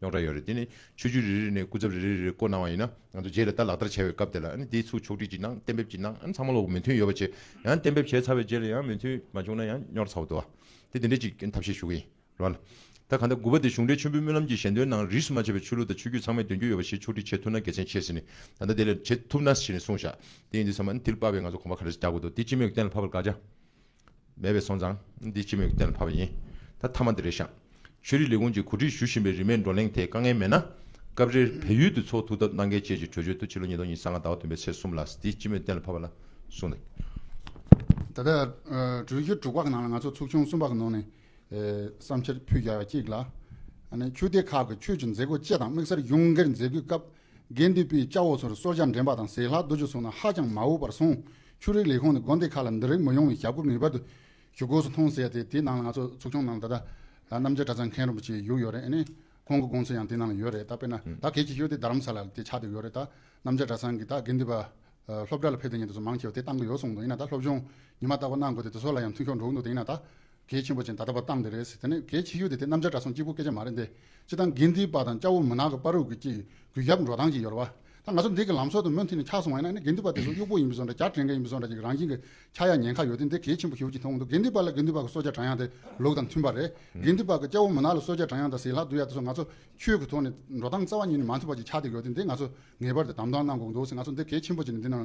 རྙོག་དྲ་ཡོད་རེད་དེ་ནི་ཆོས་བརྒྱུད་རེ་རེ་ནས་སྐུ་ཚབ་རེ་རེ་རེ་རེ་བསྐོ་གནང་བ་ཡིན་ན་ང་ཚོ་རྗེས་ལ་ལྟ་ལག་བསྟར་བྱ་བའི་སྐབས་དེ་ལ་དེའི་ཚུགས་ཕྱོགས་སྒྲིག་ཅིག་གནང་གཏན་འབེབས་ཅིག་གནང་ཚང་མ་ལོག་མོས་མཐུན་ཡོད་པ་བྱེད་ཡང་གཏན་འབེབས་བྱས་ཚར་བའི་རྗེས་ལ་ཡང་མོས་མཐུན་མ་བྱུང་ན་ཡང་རྙོག་ཚ་བ་འདུག་དེ་དེ་འདྲའི་ཅིག་ཐབས་ཤེས་ཞུ་གི་ཡིན་རོགས་ལ་ད་ག་འདའ་དགུ་པ་དེ་གཞུང་འབྲེལ་མཆོད་འབུལ་སྨོན་ལམ་གྱི་ཞལ་འདོན་ནང་རིས་སུ་མ་ཆད་པའི་ཆོས་ལུགས་དང་ཆོས་བརྒྱུད་ཚང་མས་འདོན་རྒྱུ་ཡོད་པ་ཞིག་ཕྱོགས་སྒྲིག་བྱེད་ཐུབ་ན་དགེ་མཚན་ཆེ་ཟེར་ནི་ད་ལྟ་དེ་ལས་བྱེད་ཐུབ་ན་ཞེས་ནས་གསུངས་བཞག་དེ་ཡིན་དུས་ཚང་མ་ནི་དེ་ལ་དཔག་པའི་ང་ཚོ་གོམ་པ་ག་རེ་ཟིག་རྒྱག་དགོས་འདུག་དེ་ཅི་མོས་གཏན་ལ་ཕབ་པར་དགའ་བྱ། མེད་པས་སོང་ཙང་འདི་སྤྱི་མོས་ཀྱི་གཏན་ལ་ཕབ་པ་ཡིན། ད་མཐའ་མ་འདི་རེད་བཞག། ཆོས་རིག་ལས་ཁུངས་ཀྱིས་གོ་སྒྲིག་ཞུ་བཞིན་པའི་རིས་མེད་བགྲོ་གླེང་དེ་དཀའ་ངལ་མེད་ན། སྐབས་རེར་བལ་ཡུལ་དུ་ཚོགས་ཐུག་ཐབས་གནང་གལ་ཆེ་ཞེས་གྲོས་ཆོད་དུ་ཕྱི་ལོ་ཉིས་སྟོང་ཉིས་ས་ལྔ་ཟླ་བ་བདུན་པའི་ཚེས་གསུམ་ལ་འདི་སྤྱི་མོས་གཏན་ལ་ཕབ་པ་ལ་གསུངས་འདུག། ད་ལྟ་གྲོས་ཆོད་དྲུག་པ་གི་ནང་ལ་ང་ཚོ་ཚོགས་ཆུང་གསུམ་པ་གི་ནང་ནས་བསམ་འཆར་ཕུད་རྒྱ་ཡ་གཅིག་ལ། ཆོས་སྡེ་ཁག་གི་ཆོས་ཀྱི་མཛད་སྒོ་བཅས་དང་དམིགས་བསལ་གཞུང་སྒེར་མཛད་སྒོའི་སྐབས་དགེ་འདུན་པའི་སྐྱ་བོ་ཚོར་སོར་བརྒྱ་འདྲེན་པ་དང་ཟས་ལྷག་བསྡུ་རྒྱུ་སོང་ན་ཧ་ཅང་མ་འོས་པར་གསུངས། ཆོས་རིག་ལས་ཁུངས་ནས་དགོན་སྡེ་ཁག་ལ་འདི་རིགས་མི་ཡོང་བའི་ཞབས་བཀོད་ངེས་པར་དུ་ཞུ་དགོས་སུ་མཐོང་ཟེར་ཏེ་དེའི་ནང་ལ་ང་ཚོ་ཚོགས་ཆུང་ནང་ད་ལྟ་རྣམ་རྒྱལ་གྲྭ་ཚང་མཁན་རིན་པོ་ཆེའི་ཡུལ་ཡོད་རེད་ཨེ། ཁོང་གི་དགོང་ཚོད་ཡང་དེ་ནང་ལ་ཡོད་རེད་ད་དཔེར་ན་ད་གལ་ཆེ་ཤོས་དེ་རྡ་རམ་ས་ལ་ལ་དེ་ཆགས་འདོད་ཡོད་རེད་ད་རྣམ་རྒྱལ་གྲྭ་ཚང་གིས་ད་དགེ་འདུན་པ་སློབ་གྲྭ་ལ་ཕེབས་འདོད་ཉེ་དུ་སོ་མང་ཆེ་བ་དེ་བཏང་གི་ཡོད་གསུངས་འདུག་ཡིན་ན་ད་སློབ་སྦྱོང་ཉི་མ་ལྟ་བུ་གནང་དགོས་ཏེ་དེ་ཚོ་ལ་ཡང་མཐུན་ཕྱོགས་འགྲོ་གི་འདུག་དེ་ཡིན་ན་ད་གལ་ཆེན་པོ་ཅན་ད་ལྟ་བར་བཏང་འདི་རེད་ཟེར་དེ་ནི་གལ་ཆེ་ཤོས་དེ་དེ་གནམ་ལྕགས་དྲ་སྲོང་སྐྱིད་པོ་སྐད་ཆ་མ་རེད་འདི་སྤྱི་སྟངས་དགེ་འདིའི་པ་དང་སྐྱ་བོ་མུན་ནག་གི་པ་རུ་གུ་གྱིས་གུས་ཞབས་འགྲོ་སྟངས་ཀྱི་ཡོལ་བ་ད་ང་ཚོ་འདི་གི་ལམ་སྲོལ་དུ་མུ་མཐུད་ནས་འཁྱགས་སོང་བ་ཡིན་ན་ནི་དགེ་འདུན་པ་དེ་ཚོ་གཡུག་པོ་ཡིན་པའི་བཟོ་འདྲ་སྐྱར་དྲན་མཁན་ཡིན་པའི་བཟོ་འདྲ་ཅིག་རང་བཞིན་གྱི་ཁྱགས་ཡ་ཉན་ཁ་ཡོད་དེ་འདི་གལ་ཆེན་པོ་ཞུ་གི་འཐུང་གི་འདུག་དགེ་འདུན་པ་ལ་དགེ་འདུན་པ་གི་སྲོལ་རྒྱག་དྲ་ཡང་དེ་ལུགས་དང་མཐུན་པ་རེད་དགེ་འདུན་པ་གི་སྐྱ་བོ་མུན་ནག་ལ་སྲོལ་རྒྱག་དྲ་ཡང་དང་ཟིལ་ལྷག་བསྡུ་ཡ་དེ་ཚོ་ང་ཚོ་ཆོས་གི་ཐོག་ནས་འགྲོ་སྟངས་རྩ་བ་ཉིད་ནས་མ་མཐུན་པ་ཅིག་ཆགས་འདུག་ཡོད་དེ་འདི་ང་ཚོ་ངེས་པར་དུ་དམ་དྲག་གནང་དགོས་འདུག་ཟེར་ང་ཚོ་འདི་གལ་ཆེན་པོ་ཅིག་ནི་འདི་ནང་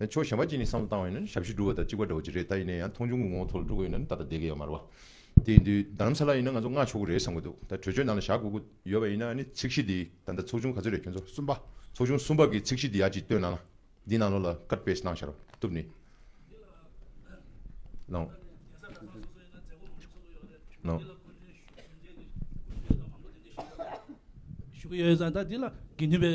ཡང་ཆོས་ཞན་པ་གཅིག་ནི་བསམ་བློ་བཏང་བས་ན་ཞབས་ཕྱི་སྒྲུབ་བ་དང་གཅིག་པ་འདྲ་བོ་ཅིག་རེད་ད་ཡིན་ན་ཡང་མཐོང་ཆུང་གི་ངོ་བོ་ཐོག་ལ་འགྲོ་དགོས་ཡོད་ན་ད་ལྟ་བསྡད་གི་ཡོད་མ་རེད་བ། དེ་ཡིན་དུས་ད་ལམ་ས་ལ་ཡིན་ན་ང་ཚོ་སྔ་ཆོག་གི་རེད་བསམ་གི་འདུག་ད་གྲོས་ཆོད་ནང་ལ་བཞག་དགོས་ཀི་ཡོད་པ་ཡིན་ན་ནི་ཚིག་གཞི་འདི་ད་ལྟ་ཚོགས་ཆུང་ག་ཚོད་རེད་ཁྱོད་ཚོ་གསུམ་པ་ཚོགས་ཆུང་གསུམ་པ་གི་ཚིག་གཞི་འདི་ཡག་ཅིག་བཏོན་གནང་ན་འདི་གནང་ལོ་ལ་ཀར་པེས་གནང་ཤག་རོགས་ཐུབ་ནི་གནང། གནང། ཞུ་གི་ཡོད་ས་ད་འདི་ལ་དགེ་འདུན་པའི།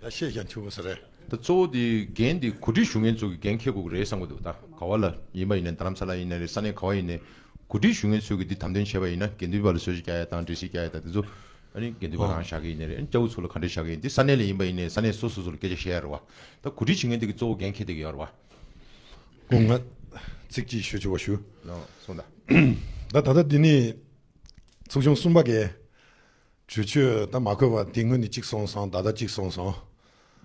ད་བཤད་ཀྱང་ཐུས་པོ་ཟེར་རེད། ད་གཙོ་བོ་དེ་འགན་དེ་གོ་སྒྲིག་ཞུ་མཁན་ཚོ་གི་འགན་ཁེ་དགོས་ཀྱི་རེད་བསམ་གྱི་འདུག་ད་ག་བ་ལ་ཡིན་པ་ཡིན་ནའི་རྡ་རམ་ས་ལ་ཡིན་ནའི་རེད་ས་གནས་ག་བ་ཡིན་ནའི་གོ་སྒྲིག་ཞུ་མཁན་ཚོ་གི་དེ་དམ་དོན་བྱས་པ་ཡིན་ན་དགེ་འདུན་པ་ལ་སོ་ཞིག་རྒྱ་ཡ་དང་འདྲེ་ཞིག་རྒྱ་ཡ་དང་དེ་ཚོ་ཨ་ནི་དགེ་འདུན་པ་རང་བཞག་གི་ཡིན་ནའི་རེད་ཨ་ནི་སྐྱ་བོ་ཚོ་ལ་ག་འདྲས་བཞག་གི་ཡིན་དེ་ས་གནས་ལ་ཡིན་པ་ཡིན་ནའི་ས་གནས་སོ་སོ་ཚོ་ལ་སྐད་ཆ་བཤད་ཡ་རེད་བ་ད་གོ་སྒྲིག་བྱེད་མཁན་དེ་གི་གཙོ་བོ་འགན་ཁེ་དེ་གི་ཡོད་རེད་བ། སྐུ་ངལ་ཚིག་གཅིག་ཞུ་ཆོག་པ་ཞུ། ན་སོང་ད། ད་ད་ལྟ་འདི་ནི་ཚོགས་ཆུང་གསུམ་པ་འགའི་བྱོས་ཁྱོས་ད་མ་བསྐོས་པ་དེ་སྔོན་ནས་གཅིག་སོང་སང་ད་ལྟ་གཅིག་སོང་སང་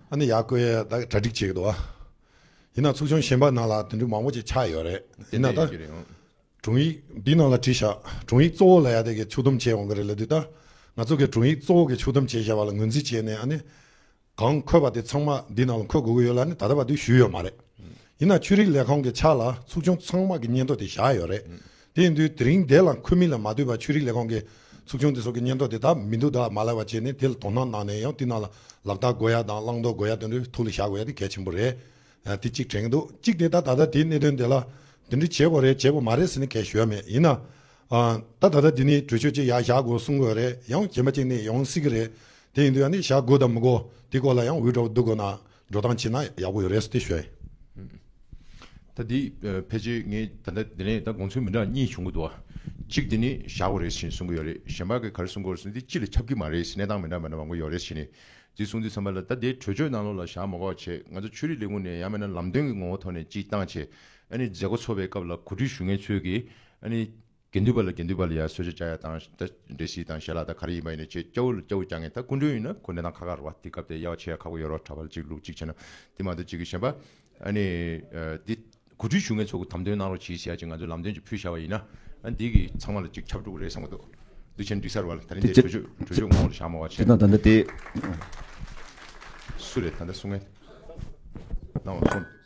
ཨ་ནི་ཡག་བསྐོས་ཡས་ད་གྲ་སྒྲིག་བྱེད་ཀྱི་འདུག་ཨ། ཡིན་ན་ཚུགས་ཆུང་གཞན་པ་ནང་ལ་དེ་འདྲུ་མང་པོ་ཅིག་ཆགས་ཡོད་རེད་ཡིན་ན་ད། དྲུང་ཡིག་འདི་ནང་ལ་བྲིས་བཞག་དྲུང་ཡིག་གཙོ་བོ་ལ་ཡ་དེ་གི་ཕྱུག་དོམ་བྱེད་འོང་གི་རེད་ལ་དུས་ད་ང་ཚོ་གི་དྲུང་ཡིག་གཙོ་བོ་གི་ཕྱུག་དོམ་བྱེད་བཞག་པ་ལ་ངོས་འཛིན་བྱས་ནས་ཨ་ནི། གང་འཁོད་པ་དེ་ཚང་མ་འདི་ནང་ལ་འཁོད་དགོས་ཀྱི་ཡོད་ལ་ནི་ད་ལྟ་བར་དུ་ཞུས་ཡོད་མ་རེད། ཡིན་ནའང་ཆོས་རིག་ལས་ཁང་གི་ཕྱག་ལ་ཚུགས་ཆུང་ཚང་མ་གི་སྙན་ཐོ་དེ་བཞག་ཡོད་རེད། དེ་ཡིན་དུས་དེ་རིང་དེ་ལ་འཁོད་མིན་ལ་མ་ལྟོས་པར་ཆོས་རིག་ལས་ཁང་གི་ཚུགས་ཆུང་དེ་སོགས་ཀྱི་སྙན་ཐོ་དེ་དག་མི་འདུག་དག་མ་ལགས་པ་བྱས་ནས་དེ་ལ་དོ་སྣང་གནང་ནས་ཡང་དེ་ནང་ལ་ལག་རྟགས་དགོས་ཡ་དང་བླང་དོར་དགོས་ཡ་དེ་འདྲ་ཐུགས་ལ་བཞག་དགོས་ཡ་དེ་གལ་ཆེན་པོ་རེད། དེ་གཅིག་དྲན་གྱི་འདུག་གཅིག་དེ་ལྟར་ད་ལྟ་དེའི་གནད་དོན་དེ་ལ་དེ་འདྲ་བྱེད་དགོས་རེད་བྱེད་དགོས་མ་རེད་ཟེར་ནས་གལ་ཞུ་ཡ་མེད་ཡིན་ནའང། ད་ད་ལྟ་འདི་ནི་གྲོས་ཆོད་ཅིག་ཡང་བཞག་དགོས་གསུང་གི་རེད་ཡང་རྗེས་མ་ཅིག་ནས་ཡོང་སྲིད་ཀྱི་རེད་དེ་ཡིན་དུས་ཡང་ནས་བཞག་དགོས་དང་མི་དགོས་དེ་སྐོར་ལ་ཡང་འུད་སྒྲོག་བསྡུ་དགོས་ན་འགྲོ་སྟངས་བྱས་ན་ཡག་པོ་ཡོད་རེད་ཟེར་ཏེ་བཤད། ད་འདི་ཕལ་ཆེར་ངས་ད་ལྟ་འདི་ནས་ད་དགོངས་ཚུལ་མི་འདྲ་གཉིས་བྱུང་གི་འདུག་གཅིག་འདི་ནི་བཞག་དགོས་རེད་ཟེར་གསུང་གི་ཡོད་རེད་གཞན་པ་གིས་ག་རེ་གསུང་དགོས་རེད་ཟེར་ན་འདི་ཅི་ལ་ཁྱབ་ཀྱི་མ་རེད་ཟེར་གནས་སྟངས་མི་འདྲ་མི་འདྲ་མང་པོ་ཡོད་རེད་ཟེར་ནས་འདི་གསུང་དུས་ཚང་མ་ལ་ད་འདི་གྲོས་ཆོད་ནང་ལོགས་ལ་བཞག་མ་གོ་བ་བྱས་ང་ཚོ་ཆོས་རིག་ལས་ཁུངས་ནས་ཡང་མེད་ན་ལམ་སྟོན་གྱི་ངོ་བོ་ཐོག་ནས་ཅིག་བཏང་བྱས་མཛད་སྒོ་འཚོགས་པའི་སྐབས་ལ་གོ་སྒྲིག་ཞུ་མཁན་ཚོས་ཀྱིས། དགེ་འདུན་པ་ལ་དགེ་འདུན་པ་ལ་ཡར་སོས་ཆ་བཅའ་ཡ་དང་འདྲེ་བྱས་དང་ཞལ་ལག་དང་ག་རེ་ཡིན་པ་ཡིན་ན་ཆེས་སྐྱ་བོ་ལ་སྐྱ་བོ་བཅའ་ངེས་ད་སྐུ་མགྲོན་ཡིན་ན་ཁོ་ནི་ནང་ཁ་ཁར་རོ་བ་དེ་སྐབས་དེ་ཡ་བ་ཆེ་ཡ་ཁག་པོ་ཡོད་རོགས་གྲྭ་བ་ལ་ཅིག་ལུགས་གཅིག་བྱས་ན་དེ་མ་ཏོག་གཅིག་གི་གཞན་པ། འདི་གོ་སྒྲིག་ཞུ་མཁན་ཚོ་དམ་དོན་གནང་རོགས་གྱིས་བྱས་ཀྱི་ང་ཚོས་ལམ་སྟོན་ཅིག་ཕུལ་བཞག་པ་ཡིན་ན་འདི་གི་ཚང་མ་ལ་ཅིག་ཁྱབ་འགྲོ་གི་རེད་བསམ་གི་འདུག་འདུག་ཆེན་འགྲིག་སར་བ་ལ་ད་རིང་འདི་གྲོས་ཆོད་གྲོས་ཆོད་ངོ་ལ་བཞག་མ་བ་ཆེ། དེ་དང་ད་ལྟ་དེ། སུ་རེད་ད་ལྟ་གསུང་མཁན། གནང་བ་སོང།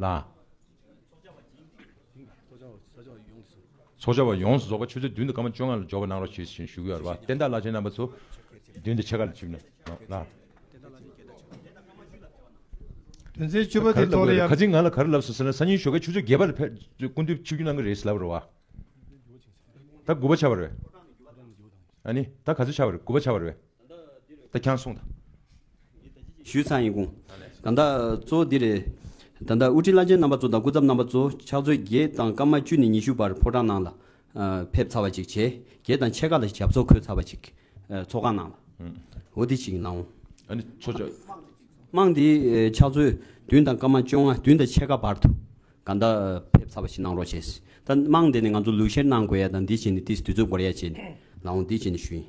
ལ། ཚོགས་བཅར་བ་ཡོངས་སུ་རྫོགས་པ་ཆུ་ཚོད་བདུན་དུ་སྐར་མ་བཅོ་ལྔ་ལ་འཇོག་པར་གནང་རོགས་ཞེས་བཞིན་བཞུགས་ཡོད་པ་བསྟན་བདག་བླ་ཆེན་རྣམ་པ་ཚོ་མདུན་དུ་ཕྱེད་ཀ་ལ་ཆིབས་ནས་ལ། དོན་ཚན་བཅུ་པ་དེའི་ཐོག་ལ་ཡང། ག་ཅིག་ང་ལ་ག་རེ་ལབ་སོང་ཟེར་ན་སང་ཉིན་ཞོགས་ཀའི་ཆུ་ཚོད་བརྒྱད་པ་ལ་ཕེབས་སྐུ་མདུན་ཆིབས་རྒྱུ་གནང་གི་རེད་ཟེར་ལབ་རོགས་བ། ད་དགུ་པ་ཆགས་པ་རེད། ཨ་ནི་ད་ག་ཚོད་ཆགས་པ་རེད་དགུ་པ་ཆགས་པ་རེད། ད་ཁྱང་སོང་ད། ཞུས་ཚང་ཡིན་གུང། ད་ཟླ་གཙོ་འདི་རེད། ད་ཟླ་དབུ་ཁྲིད་བླ་ཆེན་རྣམ་པ་ཚོ་དང་སྐུ་ཚབ་རྣམ་པ་ཚོ་ཕྱག་མཛོད་བརྒྱད་དང་སྐར་མ་བཅུ་ནས་ཉི་ཤུ་བར་ཕོ་བྲང་ནང་ལ་ཕེབས་ཚར་བ་ཅིག་བྱས་རྗེས་དང་ཕྱེད་ཀ་ལ་ཞབས་ཚོགས་འཁོད་ཚར་བ་ཅིག་ཚོགས་ཁང་ནང་ལ་འོ་དེ་ཞིག་གནང། ཨ་ནི་ཚོགས་ཆ། དམངས་དེ་ཕྱག་མཛོད་བདུན་དང་སྐར་མ་བཅོ་ལྔ་བདུན་དང་ཕྱེད་ཀ་བར་དུ་ག་ཟླ་ཕེབས་ཚར་བ་ཞིག་གནང་རོགས་བྱས། ད་དམངས་དེ་ནས་ང་ཚོ་ལུས་བཤེར་གནང་དགོས་ཡ་དང་འདི་བྱས་ནས་དེ་སི་དུས་ཚོད་འགོར་ཡ་བྱས་ནས་ལའོ་འདི་བྱས་ནས་ཞུ་ཡིན།